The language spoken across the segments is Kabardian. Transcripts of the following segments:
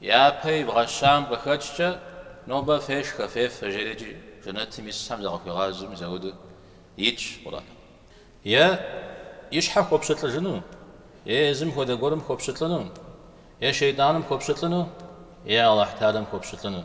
Япэ ибгъэщам къыхэкӏкӏэ, нобэ фешхэ, фефэ, жери иджы жэнэтым исхэм закъыхуигъазэми зауэдэу итщ Къурӏэным. Е и щхьэ хуопщылӏыжыну, е езым хуэдэ гуэрым хуопщылӏыну, е шейтӏаным хуопщылӏыну, е Алыхьталэм хуопщылӏыну.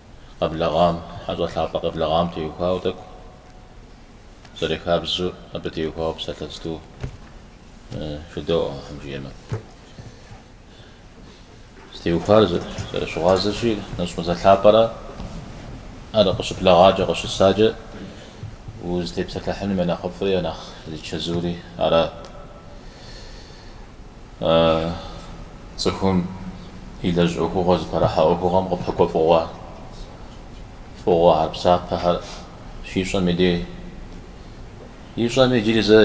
къэблэгъам, хьэщӏэ лъапӏэ къэблэгъам теухуауэ тӏэкӏу зэрыхабзэу, абы теухуауэ псалъэ зытӏу жыдоӏэ, Алыхьым жиӏэмэ. Зытеухуар зэрыщыгъуазэщи, нэщӏ мазэ лъапӏэра, ар къыщыблэгъакӏэ, къыщысакӏэ, узытепсэлъыхьыным я нэхъыфӏри, я нэхъ зичэзури ара. Цӏыхум илэжь ӏуэхугъуэ зыпэрыхьэ ӏуэхугъуэм къыпэкӏуэ фӏыгъуэ, фӏыгъуэхэр псапэхэр щищӏэм и дей, ищӏэм иджыри зэ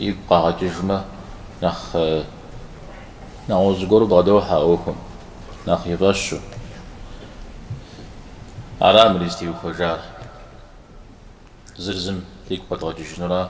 игу къагъэкӏыжмэ, нэхъ нэгъуэщӏ зыгуэру бгъэдохьэ а ӏуэхум, нэхъ и фӏэщу. Ара мыр зытеухуэжар. Зыр зым дигу къэдгъэкӏыжынура.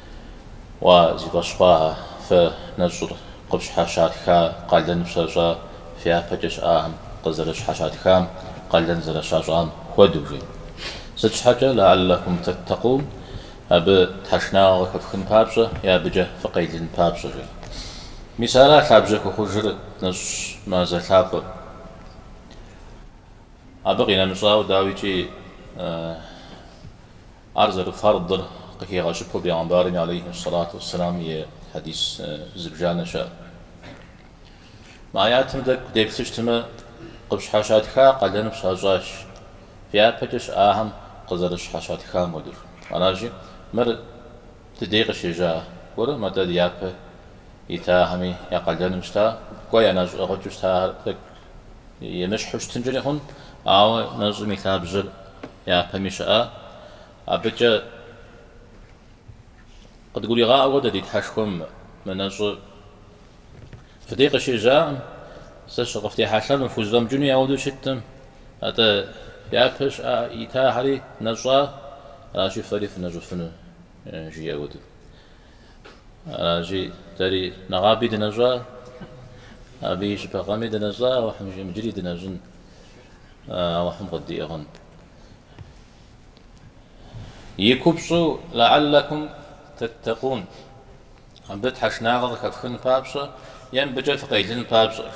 Уа, зи фӏэщ хъуахэ, фэ нэщӏыр къыфщхьэщатха къалэн фщащӏа фи япэкӏэ щыӏахэм къызэрыщхьэщатхам къалэн зэрыщащӏам хуэдэу, жи. Сыт щхьэкӏэ, лэаллэкум тэттэкъун, абы тхьэшынагъэ къыхэфхын папщӏэ е абыкӏэ фыкъелын папщӏэ, жи. Мис ара лъабжьэ хуэхъужыр нэщӏ мазэ лъапӏэм. Абы къинэмыщӏауэ, дауикӏи. Ар зэрыфэрдыр къыхигъэщыпэу Бегъымбарми алейхи ссалату уэсселам и хьэдис зыбжанэ щыӏэ. Мы аятым тӏэкӏу деплъыщтмэ, къыпщхьэщатха къалэн пщащӏащ, фи япэкӏэ щыӏахэм къызэрыщхьэщатхам хуэдэу. Аращи, мыр дыдей къыщежьа гуэркъым, атӏэ япэ итахэми я къалэным щыта, кӏуэ я нэщӏ ӏыгъыкӏэу щытахэр тӏэкӏу емыщхьу щытынкӏэри хъун, ауэ нэщӏым и лъабжьэр япэми щыӏа. Абыкӏэ къыдгуригъаӏуэ дэ ди Тхьэшхуэм мы нэщӏыр фыдей къыщежьакъым, сэ щыкъыфтехьэлъэм фхузэфӏэмыкӏыну яуэдэу щыткъым, атӏэ япэ щыӏа итахэри нэщӏа, аращи фэри фынэщӏыфыну, жиӏэ хуэдэу. Аращи, дэри нэгъаби дынэщӏа, абы и щыпэкъэми дынэщӏа, Алыхьым жиӏэм иджыри дынэщӏын, Алыхьым къыддиӏыгъын. И купщӏу лэаллэкум тэттэкъун, абы тхьэшынагъэ къыхэфхын папщӏэ е абыкӏэ фыкъелын папщӏэ.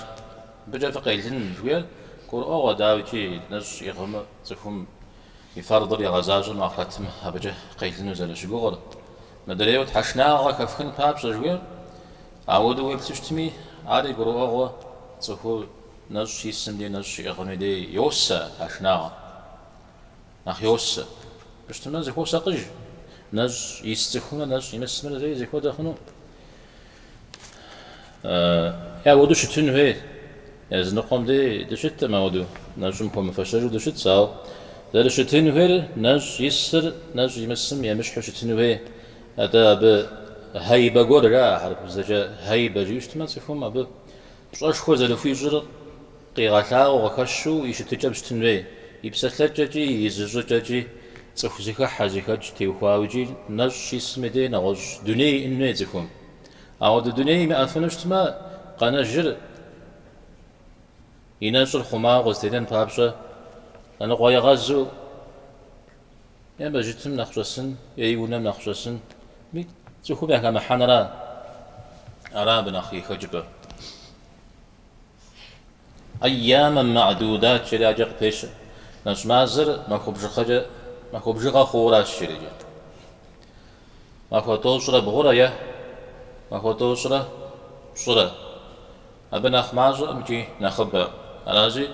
Абыкӏэ фыкъелын жыхуиӏэр гурыӏуэгъуэ, дауикӏи нэщӏ иӏыгъмэ цӏыхум И фэрдыр игъэзащӏэмэ, ахърэтым абыкӏэ къелыну зэрыщыгугъыр. Мыдрейуэ тхьэшнагъэ хэфхын папщӏэ жыхуиӏэр. Ауэдэу уеплъу щытми, ари гурыӏуэгъуэ цӏыхур нэщӏ исым дей нэщӏ щиӏыгъыми дей йосэ тхьэшнагъэ. Нэхъ йосэ. Абы щытым нэхъ зыхуосакъыж. Нэщӏ ис цӏыхумрэ нэщӏ имысымрэ зэи зыхуэдэ хъуну? Е апхуэдэу щытын хуей. Языныкъуэм дей дыщыткъым апхуэдэу. Нэщӏым хуэмыфэщэжу дыщытщ, ауэ зэрыщытын хуейр нэщӏ исыр нэщӏ имысым емыщхьу щытын хуей. Атӏэ абы хьэибэ гуэр жаӏэ, хьэрыпыбзэкӏэ хьэибэ жиӏэу щытмэ, цӏыхум абы пщӏэшхуэ зэрыхуищӏыр Къигъэлъагъуэу къыхэщу и щытыкӏэм щытын хуей, и псэлъэкӏэкӏи, и зыщӏыкӏэкӏи, цӏыху зыхыхьэ, зыхэкӏ теухуауэ икӏи нэщӏ щисым и дей нэгъуэщӏ дуней иӏэн хуей цӏыхум. Ауэдэ дуней имыӏэфыну щытмэ, къэнэжыр и нэщӏыр хъумауэ къызэтенэн папщӏэ, лъэныкъуэегъэзу е мэжджытым нэхъ щӏэсын, е и унэм нэхъ щӏэсын, ми цӏыхум яхэмыхьэнра, ара абы нэхъ и хэкӏыпӏэр. Айямэм ма'дудат жери адэкӏэ къыпещэ. Нэщӏ мазэр махуэ бжыгъэкӏэ, махуэ бжыгъэ хъууращ жери адэкӏэ. Махуэ тӏощӏрэ бгъурэ е махуэ тӏощӏрэ пщӏырэ. Абы нэхъ мащӏэкъым икӏи нэхъыбэ. Аращи,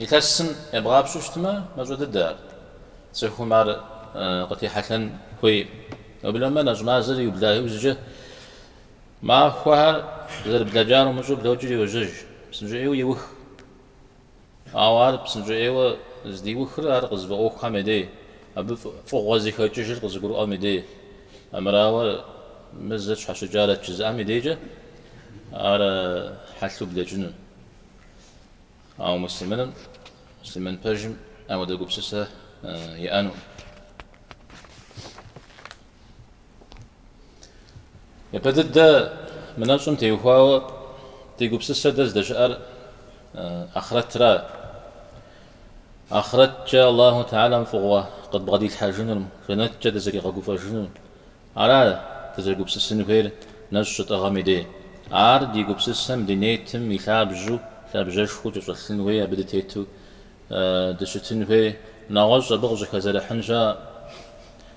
илъэсым ебгъапщэу щытмэ, мащӏэ дыдэ ар. Цӏыхум ар къытехьэлъэн хуейкъым. Уеблэмэ нэщӏ мазэр иубла иужькӏэ Махуэхэр зэрыблэкӏар умыщӏэу блокӏыр йожьэж, псынщӏэӏейуэ иух. Ауэ ар псынщӏэӏейуэ здиухыр ар къызыфӏэӏуэхухэм я дей, абы фӏыгъуэ зыхэкӏыжыр къызыгурыӏуэм и дей. Армырауэ, мы зыр тщхьэщыкӏарэт жызыӏэм и дейкӏэ ар хьэлъэу блэкӏынут. Ауэ муслъымыным, муслъымын пэжым апхуэдэ гупсысэ иӏэнукъым. Япэ дыдэ мы нэщӏым теухуауэ ди гупсысэ дэ здэщыӏэр ахърэтра. Ахърэткӏэ Аллаху Тэхьэлам фӏыгъуэ къыдбгъэдилъхьэжынур, жэнэткӏэ дызэригъэгуфӏэжынур. Ара дызэрыгупсысын хуейр нэщӏ щытӏыгъым и дей. Ар ди гупсысэм ди нетым и лъабжьу, лъабжьэшхуэу кӏэщӏэлъын хуей абы дытету дыщытын хуей нэгъуэщӏ абы къыщӏыхэзэрыхьын щыӏэкъым.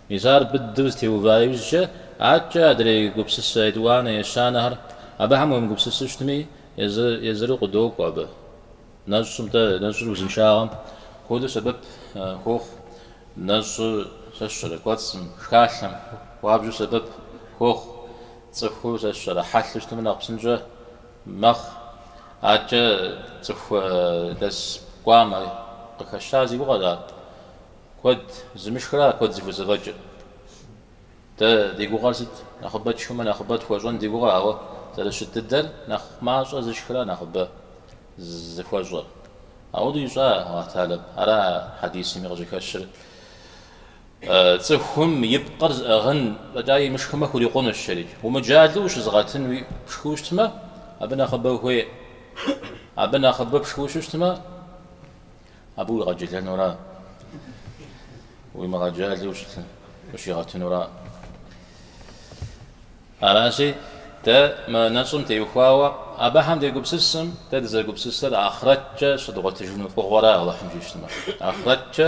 Мис ар быдэу зытеува иужькӏэ, адэкӏэ адрей гупсысэ етӏуанэ ещанэхэр абыхэм уемыгупсысу щытми, езыр-езыру къыдокӏуэ абы. Нэщӏым-тӏэ, нэщӏыр узыншагъэм хуэдэу сэбэп хуохъу, нэщӏыр сэ сщӏэрэ кӏуэцӏым, шхалъэм хуабжьу сэбэп хуохъу, цӏыхур сэ сщӏэрэ хьэлъэу щытмэ нэхъ псынщӏэ. мэхъу. Аркӏэ цӏыху лэс кӏуамэ къыхэщар зи гугъэ ара? Куэд зымышхра куэд зыхузэфӏэкӏыр. Дэ ди гугъэр сыт? Нэхъыбэ тшхымэ нэхъыбэ тхуэщӏэн ди гугъэ, ауэ зэрыщыт дыдэр нэхъ мащӏэ зышхра нэхъыбэ зыхуэщӏэр. Ауэдэу ищӏа, Алыхь Тэхьэлэм? Ара хьэдисми къыщыхэщыр. Цӏыхум и пкъыр зыӏыгъын фӏэкӏа имышхымэ хурикъунущ жери. Умыджалэу ущызыгъэтын уэ пшхыу щытмэ, абы нэхъыбэ хуей. Абы нэхъыбэ пшхыу щытмэ, абы уигъэджэлэнура, уимыгъэджалэу ущигъэтынура. Аращи, дэ мы нэщӏым теухуауэ абыхэм дегупсысым, дэ дызэгупсысыр ахърэткӏэ щыдгъуэтыжыну фӏыгъуэра, Алыхьым жиӏэу щытмэ. Ахърэткӏэ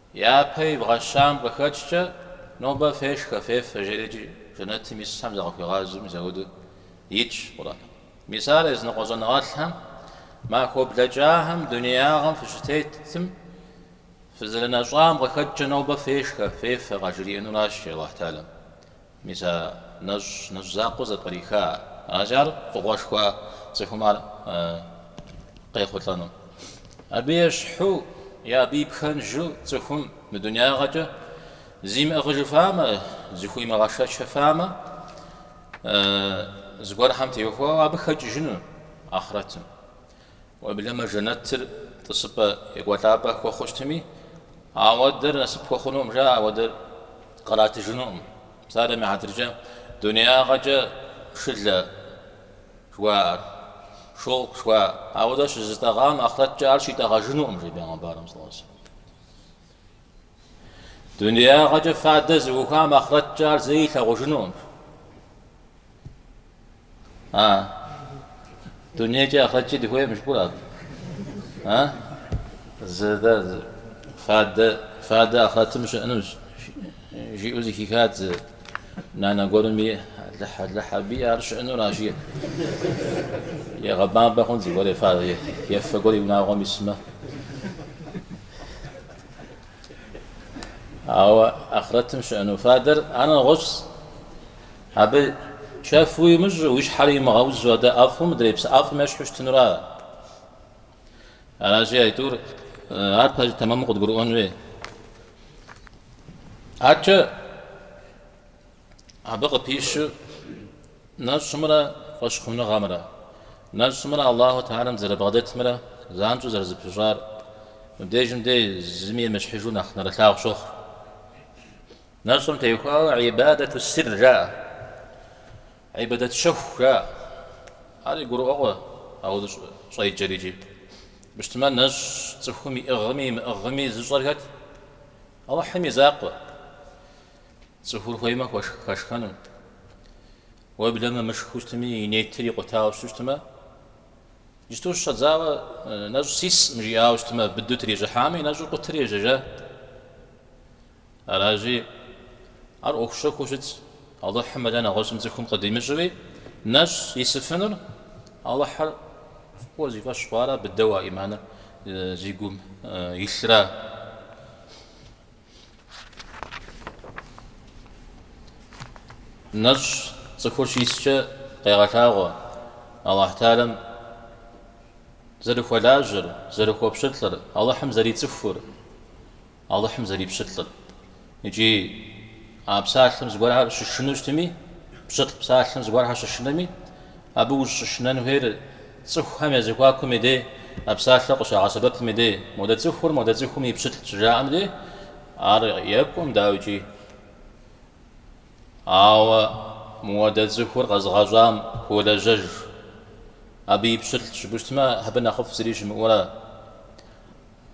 Япэ ибгъэщам къыхэкӏкӏэ, нобэ фешхэ, фефэ, жери икӏи жэнэтым исхэм зыкъыхуигъазэми зауэдэу итщ Къурӏэным. Мис ар языныкъуэ щӏэныгъэлӏхэм, махуэ блэкӏахэм дунеягъэм фыщытетым, фызэрынэщӏам къыхэкӏкӏэ нобэ фешхэ, фефэ къажриӏэнуращи, Алыхь Тэхьэлэм. Мис а нэщӏ нэщӏ закъуэу зэпкъриха ар? Аращи, ар фӏыгъуэшхуа цӏыхум ар къехъулӏэну. Абы ещхьу е абы и пхэнжу цӏыхум мы дунягъэкӏэ зимыӏыгъыжыфамэ, зыхуимыгъэшэчыфамэ, зыгуэрхэм теухуауэ абы хэкӏыжыну ахърэтым. Уеблэмэ жэнэтыр тӏысыпӏэ екӏуэлӏапӏэ хуэхъу щытми, ауэдэр насып хуэхъунукъым, жаӏэ, ауэдэр къратыжынукъым. Псалъэм и хьэтыркӏэ дунеягъэкӏэ шылэ жыхуаӏэр, шёлк жыхуаӏэр, ауэдэ щызытӏэгъам ахърэткӏэ ар щитӏэгъэжынукъым, жи бегъымбарым, сэлэллаху алейхи уэ сэллэм. Дунеягъэкӏэ фадэ зыӏухуам ахърэткӏэ ар зэи илъагъужынукъым. А? Дунейкӏи ахърэткӏи дыхуейкъым жыпӏур абы. А? Зэдэ фадэ фадэ ахърэтым щыӏэну жиӏэу зыхихат зы нанэ гуэрым и Алыхь Алыхь абыи ар щыӏэнура, жи. Егъэбампӏэ хъун зыгуэр фадэ ефэ гуэр и унагъуэм исмэ. Ауэ ахърэтым щыӏэну фадэр ар нэгъуэщӏщ. Абы чэф уимыщӏ, уи щхьэр имыгъэузу адэ ӏэфӏым, мыдрей псы ӏэфӏым ещхьу щытынура? Аращи, аитӏур, ар пэжу тэмэму къыдгурыӏуэн хуей. Аркӏэ Абы къыпищу нэщӏымрэ фӏэщхъуныгъэмрэ, нэщӏымрэ Аллаху Теалэм зэрыбгъэдэтымрэ занщӏэу зэрызэпыщӏар мыбдежым дей зыми емыщхьыжу нэхъ нэрылъагъу щохъу. Нэщӏым теухуауэ ибадэту сир жаӏэ, ибадэт щэху жаӏэ. Ари гурыӏуэгъуэ ауэ щӏыжаӏэр икӏи. Мыщтмэ нэщӏ цӏыхум иӏыгъми имыӏыгъми зыщӏэр хэт? Алыхьым и закъуэ. Цӏыхур хуеймэ хуэшх хэшхэнут. Уеблэмэ мышхэу щытми, и нетыр икъутауэ щытмэ, иджысту щыщӏэдзауэ нэщӏ сисӏым жиӏауэ щытмэ, быдэу трищӏыхьамэ, и нэщӏыр къутэри ежьэжа. Аращи, ар ӏуэху щэхуу щытщ. Алыхьым мэлэ нэгъуэщӏым цӏыхум къыдимыщӏэуи, нэщӏ исыфынур Алыхьыр фӏыуэ зи фӏэщ хъуара, быдэу а ӏиманыр зи гум илъра. Нэщӏ цӏыхур щискӏэ къегъэлъагъуэ Алыхь Теалэм зэрыхуэлажьэр, зэрыхуэпщылӏыр, Алыхьым зэрицӏыхур, Алыхьым зэрипщылӏыр. Икӏи а псалъэм зыгуэрхэр щышынэу щытми, пщылӏ псалъэм зыгуэрхэр щышынэми, абы ущыщышынэн хуейр Цӏыхухэм я зэхуакум и дей, а псалъэу къыщагъэсэбэпым и дей, модэ цӏыхур модэ цӏыхум и пщылӏщ щыжаӏэм дей, ар екӏуӏым, дауикӏи. Ауэ модэ цӏыхур къэзыгъэщӏам хуолэжьэж, абы и пщылӏщ жыпӏэу щытмэ, абы нэхъыфӏ зыри щымыӏэура.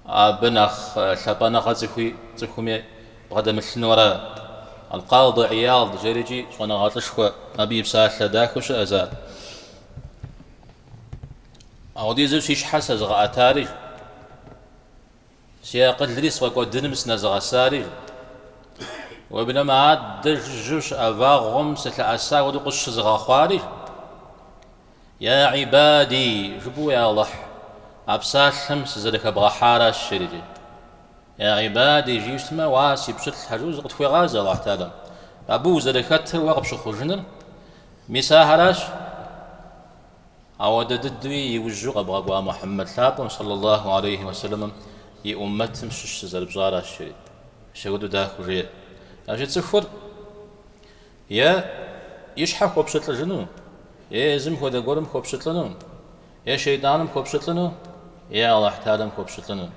Абы нэхъ лъапӏэныгъэ цӏыхуи цӏыхуми бгъэдэмылъынура. Алкъады Ияд жэрикӏи щӏэныгъэлӏышхуэ абы и псалъэ дахэу щыӏэщ ар. Апхуэдизу си щхьэр сэзыгъэӏэтари, си акъылри сфӏэкӏуэдыным сынэзыгъэсари, уеблэмэ адэ жыжьэу щыӏэ вагъуэм сылъэӏэса хуэдэу къысщызыгъэхъуари, Я гӏибади, жыпӏэу, я Алыхь, а псалъэм сызэрыхэбгъэхьаращ жери. Я гӏибади, жиӏэу щытмэ, уа си пщылӏхэ жиӏэу зыкъытхуегъазэ Алыхь Теалэм, абы узэрыхэтыр уэ къыпщыхъужыныр, мис ахэращ, ауэдэ дыдэуи иужьу къэбгъэкӏуа Мухьэммэд лъапӏэм сэллэ Аллаху гьалейхи уэсэлэмым и уммэтым щыщ сызэрыпщӏаращ жери. Мис апхуэдэу дахэу жеӏэ. Аращи цӏыхур Е и щхьэ хуопщылӏыжыну, е езым хуэдэ гуэрым хуопщылӏыну, е шейтӏаным хуопщылӏыну, е Алыхь Теалэм хуопщылӏыну.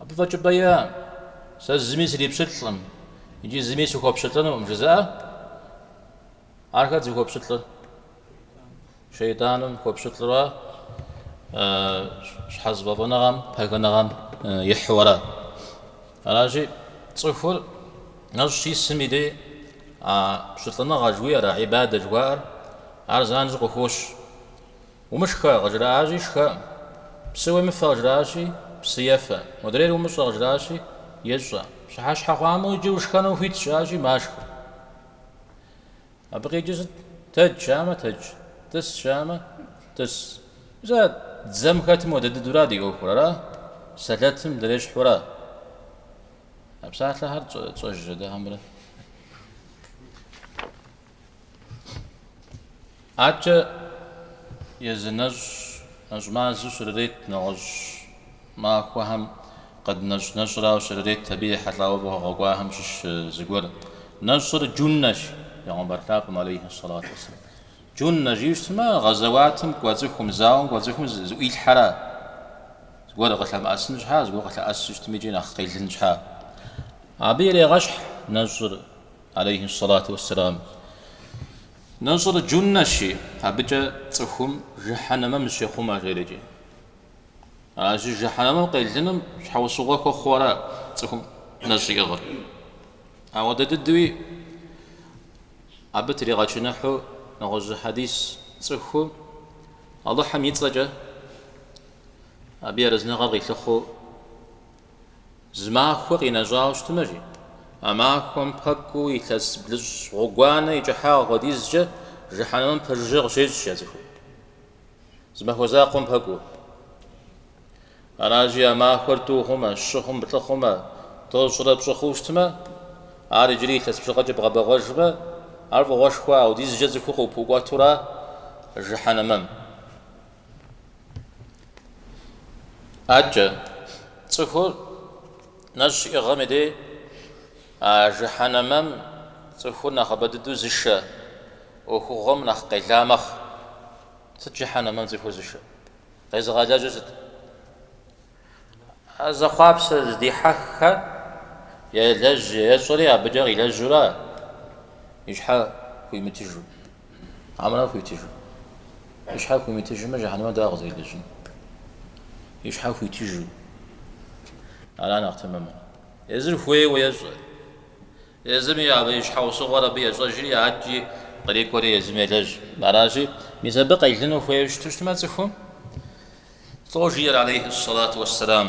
Абы фӏэкӏыпӏэ иӏэӏым. Сэ зыми срипщылӏкъым икӏи зыми сыхуопщылӏынукъым жызыӏэ ахэр зыхуэпщылӏыр. Шейтӏаным хуэпщылӏу щхьэзыфӏэфӏыныгъэм, пхъэхыныгъэм ихьу арат. Аращи, цӏыхур нэщӏ щисым и дей а пщылӏыныгъэ жыхуиӏэр, а ӏибадэ жыхуаӏэр, ар занщӏэу къыхощ. Умышхэ, къыжраӏащи, шхэӏым, псы уемыфэ, къыжраӏащи, псы ефэӏым, модрейр умыщӏэ, къыжраӏащи, ищӏэӏым, пщыхьэщхьэ хъуамэ, иджы ушхэнум хуитщ, жаӏащи, машхэ. Абы къикӏи сыт? Тэдж жаӏамэ, тэдж, тӏыс жаӏамэ, тӏыс. Зэ дзэм хэтым хуэдэ дыдэура ди ӏуэхур, ара? Сэлэтым дырещхьу ара? А псалъэхэр тщӏэжрэ дэ хьэмрэ? Адэкӏэ езы нэщӏ, нэщӏ мазэу щрырет нэгъуэщӏ. Махуэхэм къыднэщӏ нэщӏ арауэ щрырет абы ехьэлӏауэ фӏыгъуэ къэкӏуахэм щыщ зыгуэр. Нэщӏыр Джуннэщ, Бегъымбар лъапӏэм алейхьи сэлату уэсэлам. Джуннэ жыпӏэмэ, гъэзэуатым кӏуэ цӏыхум, зауэм кӏуэ цӏыхум зыӏуилъхьэра? Зыгуэр къылъэмыӏэсын щхьэкӏэ, зыгуэр къылъэӏэсу щытми икӏи нэхъ къелын щхьэкӏэ? Абы ирегъэщхь нэщӏыр, алейхьи сэлату уэсэлам. Нэщӏыр Джуннэщи, абыкӏэ цӏыхум жыхьэнэмэм зыщехъумэ, жери икӏи. Ар щыжиӏэкӏэ жыхьэнэмэм къелыным щхьэусыгъуэ хуэхъуу ара цӏыхум нэщӏ иӏыгъыр? Апхуэдэ дыдэуи абы тригъэчыныхьу нэгъуэщӏ хьэдис цӏыху Алыхьым и цӏэкӏэ абы и арэзыныгъэр къилъыхъуэу зы махуэ къинэщӏауэ щытымэ жи, а махуэм пэкӏуу илъэс блыщӏ гъуэгуанэ и кӏыхьагъ хуэдизкӏэ жыхьэнэмэм пэжыжьэ къыщещӏ а цӏыхур. Зы махуэ закъуэм пэкӏуу. Аращи, а махуэр тӏу хъумэ, щы хъумэ, плӏы хъумэ, тӏощӏрэ пщӏы хъуу щытмэ, ар иджыри илъэс блыщӏкӏэ бгъэбэгъуэжмэ, ар фӏыгъуэшхуэ аудизкӏэ цӏыхур къыпыӏукӏуэту ара жыхьэнэмэм. Адэкӏэ цӏыхур Нэщӏ щиӏыгъым и дей а жыхьэнэмэм цӏыхур нэхъыбэ дыдэу зышэ ӏуэхугъуэм нэхъ къела мэхъу. Сыт жыхьэнэмэм цӏыхур зышэ? Къезыгъэлэжьыр сыт? А зэхъуапсэ зыдихьэххэр елэжь ещӏри абыкӏэ къилэжьурэ и щхьэ хуимытыжу. Арамэ хуитыжу. И щхьэр хуимытыжмэ, жыхьэнэмэ дауэ къызэрилэжьын? И щхьэр хуитыжу. Ара нэхъ тэмэмыр. Езыр хуейуэ ещӏэ. Езыми абы и щхьэусыгъуэр абы ещӏэжри, адэкӏи кърикӏуэри езым елэжь. Аращи, мис абы къелыну хуейуэ щыту щытмэ цӏыхум, лӏо жиӏэр алейхьи сэлату уэссэлам.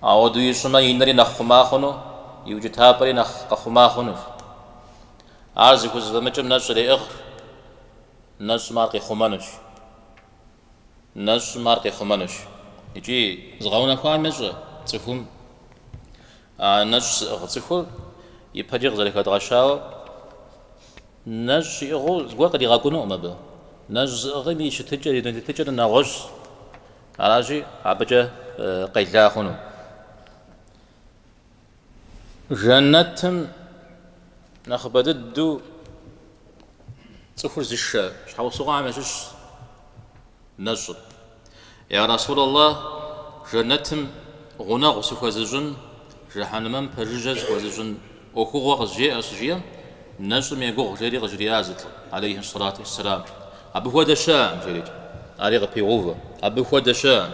Ауэдэу ищӏымэ, и нэри нэхъ хъума хъуну, и укӏытапӏэри нэхъ къэхъума хъунущ. Ар зыхузэфӏэмыкӏым нэщӏ иреӏыгъ, нэщӏым ар къихъумэнущ. Нэщӏым ар къихъумэнущ. Икӏи зыгъэунэхуам ещӏэ цӏыхум а нэщӏ зыӏыгъ цӏыхур ипэкӏэ къызэрыхэдгъэщауэ нэщӏ иӏыгъыу зыгуэр къыдигъэкӏунукъым абы. Нэщӏ зыӏыгъым и щытыкӏэр, и дуней тетыкӏэр нэгъуэщӏщ. Аращи, абыкӏэ къела хъуну жэнэтым нэхъыбэ дыдэу цӏыхур зышэ щхьэусыгъуэхэм ящыщщ нэщӏыр. Я Расулаллэ, жэнэтым гъунэгъу сыхуэзыщӏын, жыхьэнмэм пэжыжьэ сыхуэзыщӏын. ӏуэхугъуэ къызжеӏэ щыжиӏэм, нэщӏым егугъу жери къыжриӏащ зы лӏы, алейхьи сэлату уэсселам, Абы хуэдэ щыӏэкъым, жерикӏэ. Ари къыпегъэувэ, Абы хуэдэ щыӏэкъым,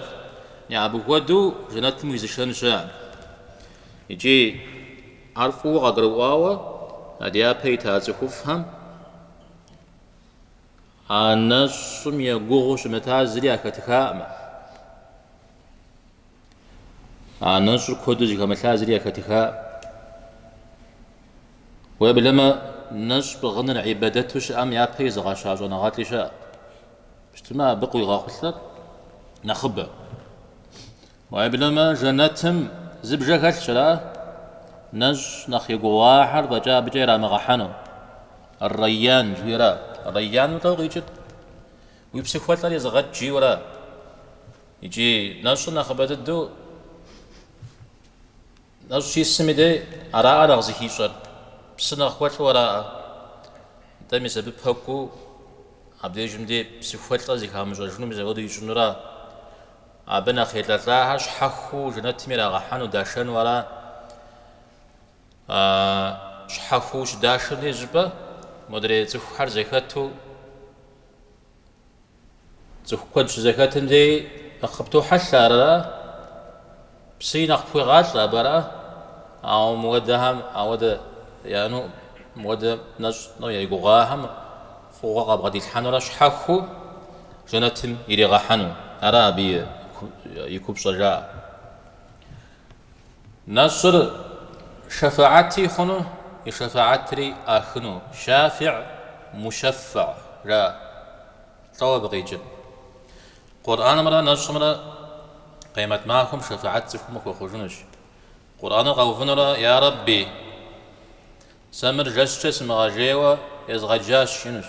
е абы хуэдэу жэнэтым уизышэн щыӏэкъым. Икӏи ар фӏыуэ къагурыӏуауэ а дяпэ ита цӏыхуфӏхэм а нэщӏым егугъуу щымытар зыри яхэтыхакъымэ. А нэщӏыр куэду зыхэмылъа зыри яхэтыхакъым. Уеблэмэ нэщӏ пӏыгъыныр ибэдэту щыӏэм япэ изыгъэща щӏэныгъэлӏи щыӏэ. Пщтымэ абы къуигъэхъулъэр нэхъыбэ. Уеблэмэ жэнэтым зы бжэ хэлъщ, ара? Нэщӏ нэхъ егугъуахэр фӏэкӏа абыкӏэ ирамыгъэхьэну. Рейян жиӏэра? Рейян лӏэу къикӏыр? Уи псыхуэлӏэр изыгъэкӏ жиӏэу ара? Икӏи нэщӏыр нэхъыбэ дыдэу нэщӏ щисым и дей араӏэ нэхъ зыхищӏэр, псы нэхъ хуэлӏу араӏэ. Нтӏэ, мис абы пэкӏуу абдежым дей псыхуэлӏэ зыхамыщӏэжыну мис ауэдэу ищӏынура? Абы нэхъ елӏэлӏахэр щхьэхыу жэнэтым ирагъэхьэну, дашэну ара? Щхьэхыу щыдашэм дей щӏыпӏэ модрей цӏыхухэр зэхэту, Цӏыху куэд щызэхэтым дей нэхъ къыптохьэлъэ арэрэ? Псыи нэхъ пхуегъалӏэ абыра? Ауэ мыуэдэхэм ауэдэ яни, мыуэдэ нэщӏ-тӏэу егугъуахэм фӏыгъуэ къабгъэдилъхьэнурэ щхьэхыу жэнэтым иригъэхьэну ара абы и купщӏэжар? Нэщӏыр шэфэӏэти хъуну, и шэфэӏэтри ӏахыну, шафиӏ, мушэффэ, ра, лӏэу абы къикӏыр. Къурӏэнымрэ нэщӏымрэ къемэт махуэм шэфэӏэт цӏыхум хуэхъужынущ. Къурӏэныр къэувынурэ, Я Рэбби! Сэ мыр жэщкӏэ сымыгъэжейуэ езгъэджащ, жиӏэнущ.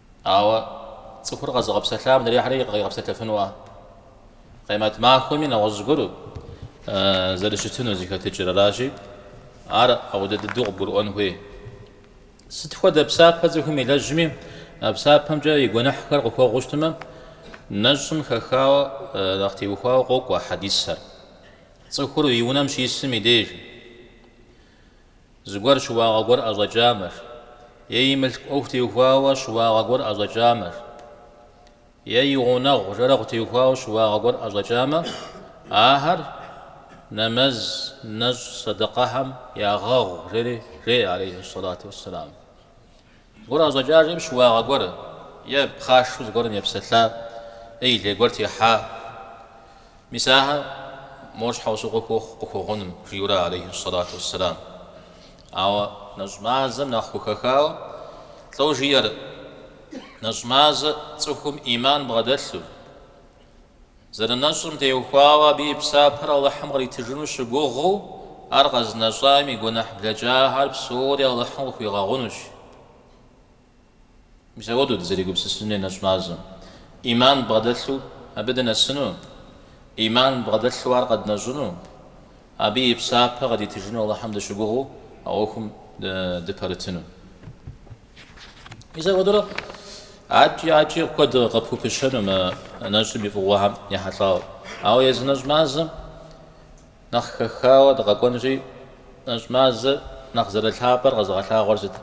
Ауэ цӏыхур къэзыгъэпсэлъам адрейхэри къигъэпсэлъэфынуа? Къемэт махуэми нэгъуэщӏ гуэру зэрыщытыну зыхэтыкӏэр аращи, ар ауэдэ дыдэу къыбгурыӏуэн хуей. Сыт хуэдэ псапэ цӏыхум илэжьми, а псапэмкӏэ и гуэныхьхэр къыхуэгъуу щытмэ, нэщӏым хэхауэ нэхъ теухуауэ къокӏуэ а хьэдисхэр. Цӏыхур и унэм щисым и деж. Зыгуэр щыуагъэ гуэр ӏэщӏэкӏамэр. Е и мылъку ӏуэху теухуауэ щыуагъэ гуэр ӏэщӏэкӏамэр. Е и гъунэгъу жэрэгъу теухуауэ щыуагъэ гуэр ӏэщӏэкӏамэ, ахэр нэмэз, нэщӏ, сэдэкъэхэм ягъэгъу, жери жеӏэ, алейхьи сэлату уэсселам. Гуэр ӏэщӏэкӏа жиӏэм щыуагъэ гуэр е пхъашэу зыгуэрым епсэлъа е и лей гуэр техьа, мис ахэр мо щхьэусыгъуэ хуохъу къыхуэгъуным, жиӏэурэ алейхьи сэлату уэсселам. Ауэ нэщӏ мазэм нэхъ хухэхауэ лӏо жиӏэр, нэщӏ мазэ цӏыхум ӏиман бгъэдэлъу, Зэрынэщӏым теухуауэ абы и псапэр Алыхьым къритыжыну щыгугъыу, ар къэзынэщӏам и гуэныхь блэкӏахэр псори Алыхьым къыхуигъэгъунущ. Мис ауэдэу дызэригупсысын хуей нэщӏ мазэм ӏиман бгъэдэлъу абы дынэсыну, ӏиман бгъэдэлъу ар къэднэщӏыну, абы и псапэ къыдитыжыну Алыхьым дыщыгугъыу а ӏуэхум дыпэрытыну. Мис апхуэдэурэ адэкӏи адэкӏи куэд къыпхупыщэну мы нэщӏым и фӏыгъуэхэм ехьэлӏауэ. Ауэ езы нэщӏ мазэм нэхъ хэхауэ дыкъэкӏуэнри, нэщӏ мазэр нэхъ зэрылъапӏэр къэзыгъэлъагъуэр сыт?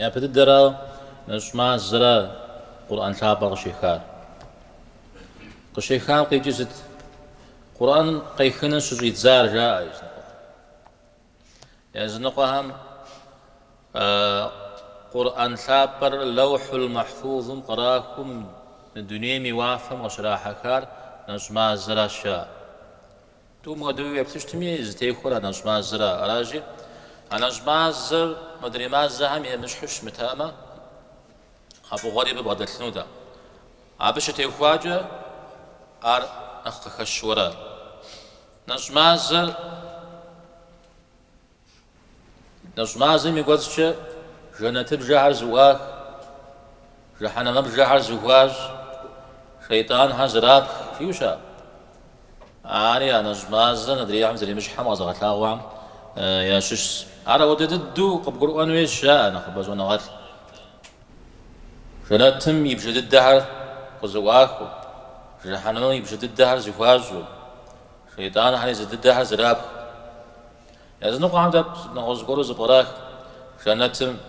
Япэ дыдэрауэ, нэщӏ мазэра Къурӏэн лъапӏэр къыщехар. Къыщехам къикӏыр сыт? Къурӏэн къехыну щыщӏидзар, жаӏэ языныкъуэм. Языныкъуэхэм Къурӏэн лъапӏэр Лэухьул Махьфузым кърахыу мы дунейм и уафэм къыщрахьэхар нэщӏ мазэращ жаӏэр. Тӏум хуэдэуи уеплъыщтми, зытехуэр а нэщӏ мазэра? Аращи, а нэщӏ мазэр мыдрей мазэхэм емыщхьу щымытамэ, а фӏыгъуэри абы бгъэдэлъынутэ. Абы щытехуакӏэ ар нэхъ къыхэщуэрэ? Нэщӏ мазэр Нэщӏ мазэм и кӏуэцӏкӏэ жэнэтыбжэхэр зыӏуах, жыхьэнэмыбжэхэр зыхуащӏ, шейтӏанхэр зэрапх, жиӏэу щыӏэ. Ари а нэщӏ мазэр адрейхэм зэремыщхьым къэзыгъэлъагъуэхэм ящыщщ. Ар апхуэдэ дыдэу къыбгурыӏуэн хуейщ, жаӏэ нэхъыбэ щӏэныгъэлӏ. Жэнэтым и бжэ дыдэхэр къызыӏуахыу, Жэхьэнэмым и бжэ дыдэхэр зыхуащӏу, Шейтӏанхэр езы дыдэхэр зэрапху. Языныкъуэхэм дэ нэгъуэщӏ зыгуэру зыпкърах, Жэнэтым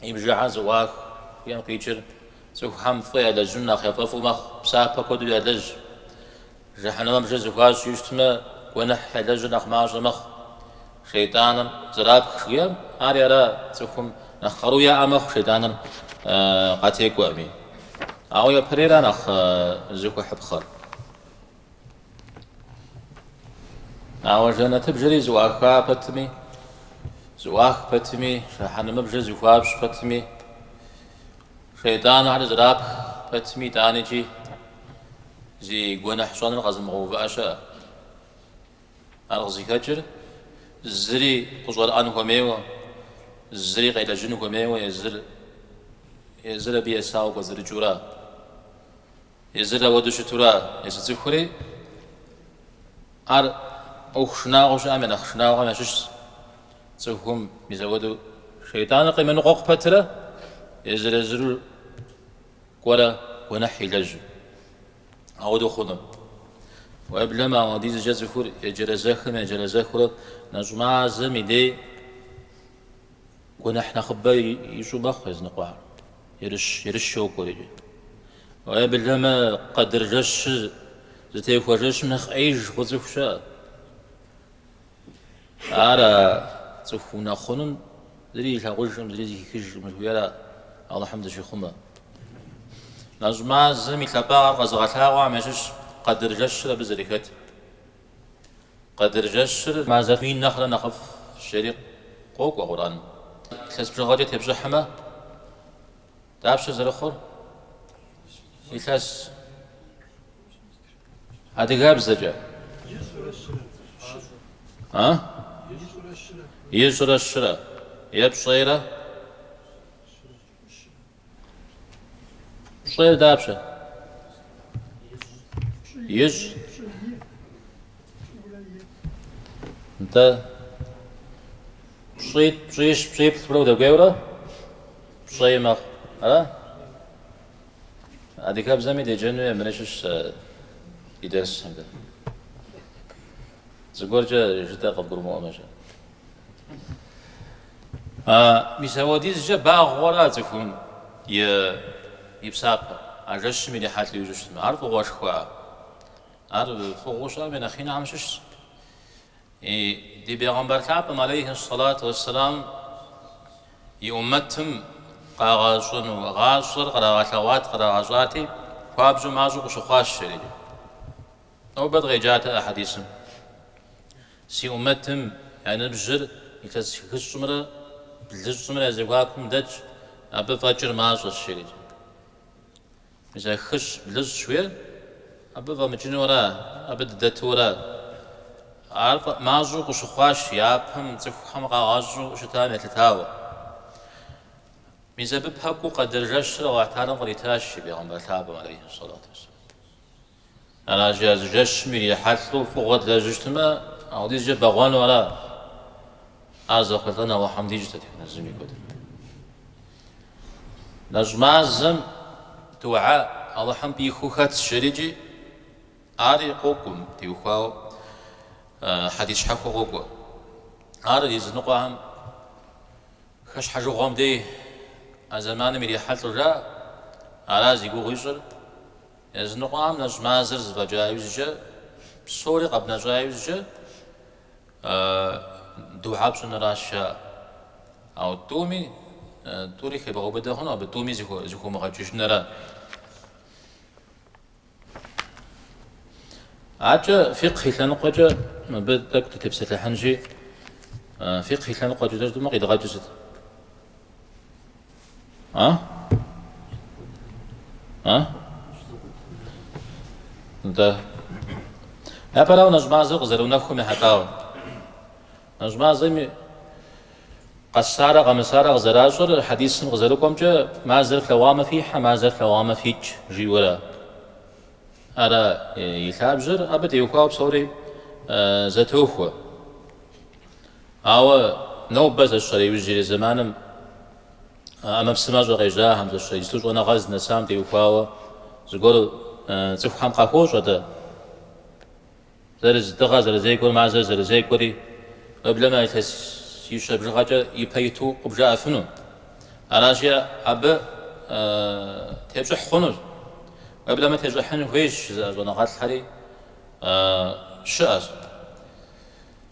и бжэхэр зыӏуах жыхуиӏэм къикӏыр цӏыхухэм фӏы ялэжьыну нэхъ яфӏэфӏу мэхъу, псапэ куэду ялэжь. Жэхьэнэмыбжэр зыхуащӏу щытмэ, гуэныхь ялэжьыр нэхъ мащӏэ мэхъу. Шейтӏаныр зэрапх жиӏэм, ари ара цӏыхум нэхъ къару яӏэ мэхъу шейтӏаныр къатекӏуэми. Ауэ япэрейра нэхъ зыхуэхьыпхъэр? Ауэ жэнэтыбжэри зыӏуаха пэтми, зыӏуах пэтми, жэхьэнэмыбжэр зыхуащӏ пэтми, Шейтӏанхэр зэрапх пэтми, итӏанэкӏи зи гуэныхь щӏэныр къэзымыгъэувыӏэ щыӏэ. Ар къызыхэкӏыр зыри къыщӏэрыӏэн хуэмейуэ, зыри къелэжьын хуэмейуэ, езыр, езыр абы есауэ кӏуэцӏрыкӏыура, езыр ауэду щытура, езы цӏыхури, Ар ӏуэху шынагъуэу щыӏэм я нэхъ шынагъуэхэм ящыщщ. Цӏыхум езы ауэду шейтӏаныр къемыныкъуэкъу пэтрэ езыр-езыру кӏуэрэ гуэныхь илэжьу. Ауэдэу хъунум. Уеблэмэ, ауэдизкӏэ цӏыхур еджэрэзэхым-еджэрэзэхурэ нэщӏ мазэм и дей Гуэныхь нэхъыбэ ищӏу мэхъу языныкъуэр, ерыщ, ерыщ йокӏуэрикӏэ. Уеблэмэ къэдыр жэщыр зытехуэ жэщым нэхъ ӏеиж хъу цӏыху щыӏэ. Ара цӏыху унэхъунум зыри илъагъужкъым, зыри зыхихыжкъым жыхуиӏэра Алыхьым дыщихъумэ. Нэщӏ мазэм и лъапӏагъэр къэзыгъэлъагъуэхэм ящыщ къэдыр жэщыр абы зэрыхэтыр. Къэдыр жэщыр мазэ мин нэхърэ нэхъыфӏ жери къокӏуэ Къурӏэн. Илъэс бжыгъэкӏэ тепщӏыхьмэ, дапщэ зэрыхъур? Илъэс адыгэбзэкӏэ. А? Ищӏрэ щырэ. Е пщӏейрэ. Пщӏейр дапщэ? Ищӏ. Нтӏэ. Пщӏитӏ, пщӏищ, пщӏиплӏ хъуурэ удэкӏуейурэ пщӏей мэхъу. Ара? Адыгэбзэми деджэну е мыри щыщ сэ и дерсым дэ. Зыгуэркӏэ жытӏэ къыбгурымыӏуэмэщ. А мис апхуэдизкӏэ багъуэра а цӏыхум и псапэр? А жэщым ирихьэлӏэу ищӏыщтмэ, ар фӏыгъуэшхуа? Ар фӏыгъуэу щыӏэм и нэхъ инэхэм щыщщ. И ди Бегъымбар лъапӏэм, алейхи ссалату уэсселам, и уммэтым къагъэщӏэну гъащӏэр кърагъэлъэгъуат, кърагъэщӏати, хуабжьу мащӏэу къыщыхъуащ жери. Нобэ дыкъеджатэ а хьэдисым. Си Умэтым я ныбжьыр илъэс хыщӏымрэ блыщӏымрэ я зэхуакум дэтщ, абы фӏэкӏыр мащӏэщ, жерикӏэ. Мис а хыщӏ, блыщӏ жыхуиӏэр абы фӏэмыкӏынура, абы дыдэтурэ? Ар фӏэмащӏэу къыщыхъуащ япэм цӏыхухэм къагъэщӏу щытам елъытауэ. Мис абы пэкӏуэу Къэдыр жэщыр Алыхьталэм къритащ и Бегъымбар лъапӏэм, алейхьи сэлату уэсэлам. Аращи, а зы жэщым ирихьэлӏэу фӏыгъуэ длэжьыщтмэ, апхуэдизкӏэ бэгъуэну ара? Ар зэхъулӏэн Алыхьым дищӏт а технэзым и куэдым. Нэщӏ мазэм духьэ Алыхьым пӏихыу хэтщ жерикӏи, ари къокӏум теухуауэ хьэдис щхьэхуэ къокӏуэ. Ар языныкъуэхэм хэщхьэжыгъуэм дей а зэманым ирихьэлӏэу жаӏэ, ара зи гугъу ищӏыр, Языныкъуэхэм нэщӏ мазэр зэфӏэкӏа иужькӏэ, псори къэбнэщӏа иужькӏэ духьэ пщӏыныращ жаӏэр. Ауэ тӏуми, тӏури хебгъэубыдэ хъуну, абы тӏуми зыхыумыгъэкӏыжынра? Аркӏэ фикъхь и лъэныкъуэкӏэ мыбы тӏэкӏу дытепсэлъыхьынщи, фикъхь и лъэныкъуэкӏэ жытӏэмэ къидгъэкӏыр сыт? А? А? Да. Япэрауэ нэщӏ мазэу къызэрыунэхум ехьэлӏауэ. Нэщӏ мазэми къэсарэ къэмысарэ къызэращӏэр хьэдисым къызэрыкӏуэмкӏэ мазэр флъэгъуамэ фихьэ, мазэр флъэгъуамэ фикӏ жиӏэурэ. Ара и лъабжьэр абы теухуауэ псори зэтохуэ. Ауэ нобэ зэщэрэ иужьрей зэманым а ӏэмэпсымэщӏэ къежьахэм, зэщэрэ иджыпсту щӏэныгъэ зынэсам теухуауэ зыгуэр цӏыхухэм къахуощӏэ дэ, зэрыз дыгъэ зэрызекӏуэр, мазэр зэрызекӏуэри, уеблэмэ илъэсищэ бжыгъэкӏэ ипэ иту къыбжаӏэфыну. Аращи, абы тепщӏыхь хъунущ. Уеблэмэ тещӏыхьын хуейщ жызыӏэ щӏэныгъэлӏхэри щыӏэщ.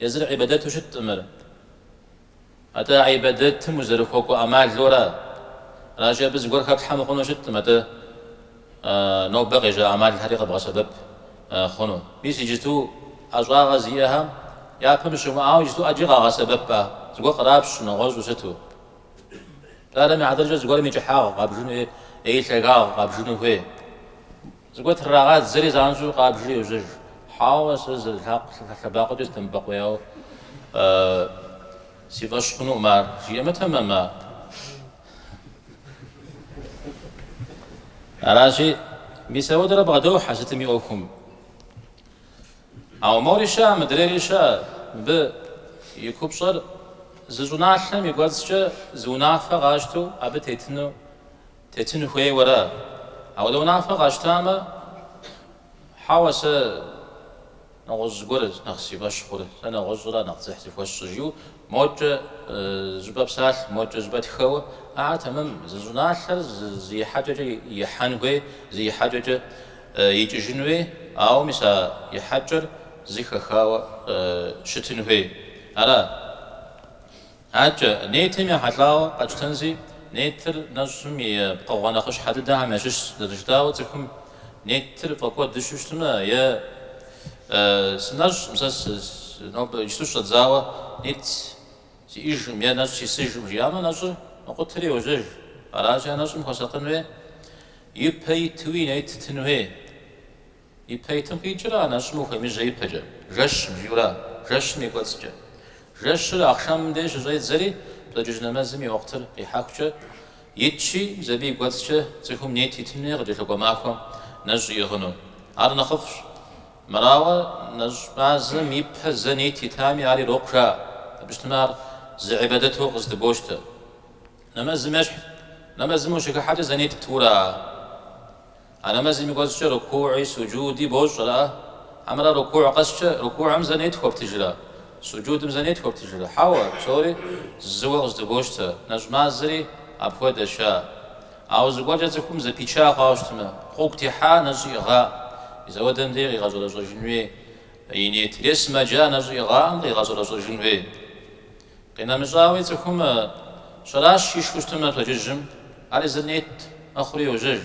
Езыр гӏибадэту щыткъым ар. Атӏэ гӏибадэтым узэрыхуэкӏуэ ӏэмалуэра? Аращи, абы зыгуэр хэплъхьэ мыхъуну щыткъым, атӏэ нобэ къежьа ӏэмалхэри къэбгъэсэбэп хъуну. Мис иджыту ӏэщӏагъэ зиӏэхэм япэм щымыӏауэ иджыту ӏэджи къагъэсэбэпӏэ, зыгуэр кърапщ нэгъуэщӏу сыту. Пщӏарэмэ, адрыкӏэ зыгуэрым и кӏыхьагъ къабжыну е и лъагагъ къабжыну хуей. Зыгуэр трагъадзэри занщӏэу къабжри йожьэж. Хьэуэ, сэ зы лъакъуэ лъэбакъуэкӏэ сыдэмыбэкъуеяуэ си фӏэщ хъунукъым ар, жиӏэмэ тэмэм. Аращи, мис ауэдэрэ бгъэдохьэ сытым и ӏуэхум. Ауэ мори щыӏэ, мыдрейри щыӏэ, мыбы и купщӏэр зы щӏыналъэм и кӏуэцӏкӏэ зы унафэ къащтэу абы тетыну Тетын хуейуэра? Ауэдэ унафэ къащтамэ, хьэуэ, сэ нэгъуэщӏ зыгуэр нэхъ си фӏэщ хъур, сэ нэгъуэщӏра нэхъ дзыхь зыхуэсщӏыр, жиӏэу мокӏэ щӏыпӏэ псалъ, мокӏэ щӏыпӏэ тхэуэ. Ар тэмэм, зы щӏыналъэр зы ихьэкӏэкӏэ ихьэн хуей, зы ихьэкӏэкӏэ икӏыжын хуей, ауэ мис а ихьэкӏэр зы хэхауэ щытын хуей. Ара? Адэкӏэ, нетым ехьэлӏауэ къэтщтэнщи, нетыр нэщӏым и пкъыгъуэ нэхъыщхьэ дыдэхэм ящыщщ, зэрыжытӏауэ цӏыхум нетыр фӏэкӏуэдыжу щытмэ, е сынэщӏым, сэ нобэ иджыпсту сщӏэдзауэ нет сиӏэжкъым, е нэщӏ сисыжкъым жиӏамэ, нэщӏыр мэкъутэри йожьэж. Аращи, а нэщӏым хуэсакъын хуей, ипэ итуи нет тын хуей. Ипэ итым къикӏыр а нэщӏым ухуемыжьэ ипэкӏэ, жэщ бзура, жэщым и кӏуэцӏкӏэ. Жэщыр ахъшэмым деж щыщӏедзэри, пщэдджыжь нэмэзым и уахътыр къихьэхукӏэ итщи, мис абы и кӏуэцӏкӏэ цӏыхум нет итын хуей къыкӏэлъыкӏуэ махуэм нэщӏ иӏыгъыну. Ар нэхъыфӏщ. Мырауэ, нэщӏ мазэм ипэ зэ нет итами, ар ирокъу жаӏэ. Абы щытмэ, ар зы гӏибадэтэу къыздыбощтэ. Нэмэзым ещхь, нэмэзым ущыхыхьэкӏэ зэ нет птура? А нэмэзым и кӏуэцӏкӏэ рукугъи суджуди бощӏрэ? Хьэмэрэ рукугъ къэскӏэ рукугъым зэ нет хуэптыжрэ? Суджудым зэ нет хуэптыжрэ? Хьэуэ, псори зыуэ къыздыбощтэ, нэщӏ мазэри апхуэдэщ. А! Ауэ зыгуэркӏэ цӏыхум зэпича хъуауэ щытмэ, гъуэгу техьа нэщӏ иӏыгъа? Мис ауэдэм дей къигъэщӏэрэщӏэжын хуей и нетыр е сымаджа нэщӏ иӏыгъаӏэм къигъэщӏэрэщӏэжын хуей? Къинэмыщӏауи, цӏыхум щэращ ишхыу щытмэ пщэдджыжьым, ар езыр нет мэхъури йожьэж.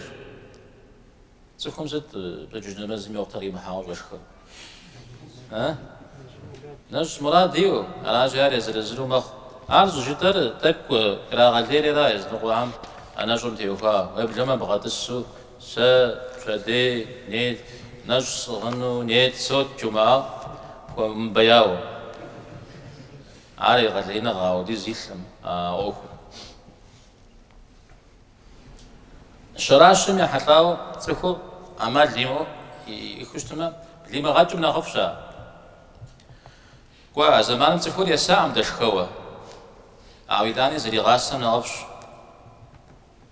Цӏыхум сыт пщэдджыжь нэмэзым и уахътыр имыхьауэ щӏэшхыр? Э? Нэщӏ мурад иӏэу, аращи ар езыр-езыру мэхъу. Ар щӏыжытӏэр тӏэкӏу ирагъэлейри ара языныкъуэхэм а нэщӏым теухуа уеблэмэ бгъэтӏысу Сэ пщэдей нет, нэщӏ сӏыгъыну нет сощӏ жумыӏа хуэмыбэяуэ. Ар егъэлеиныгъэ ауэдиз илъым а ӏуэхур. Щэращым ехьэлӏауэ цӏыхур ӏэмал имыӏэу ишхыу щытмэ, блимыгъэкӏым нэхъыфӏщ ар. Кӏуэ, а зэманым цӏыхур есакъым дэшхэуэ, ауэ итӏани зригъасэм нэхъыфӏщ.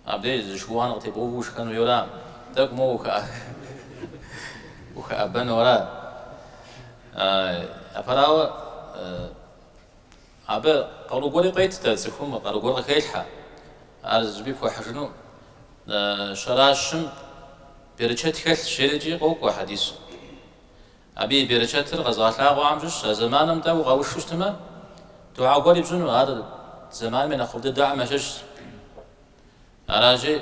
Абдеж, зы шыуан къытебгъэуву ушхэн хуейуэ ара? Тӏэкӏу моуэ ухэӏэбэну ара? Апэрауэ, абы къару гуэри къует, дэ цӏыхум къару гуэр къыхелъхьэ. Ар зыщӏыпӏи пхуэхьыжыну щэращым берычэт хэлъщ, жери икӏи къокӏуэ хьэдисым. Абы и берычэтыр къэзгъэлъагъуэхэм щыщщ, а зэманым дей укъэушу щытмэ, духьэ гуэри пщӏыну, ар зэманым и нэхъыфӏ дыдэхэм ящыщщ. Аращи,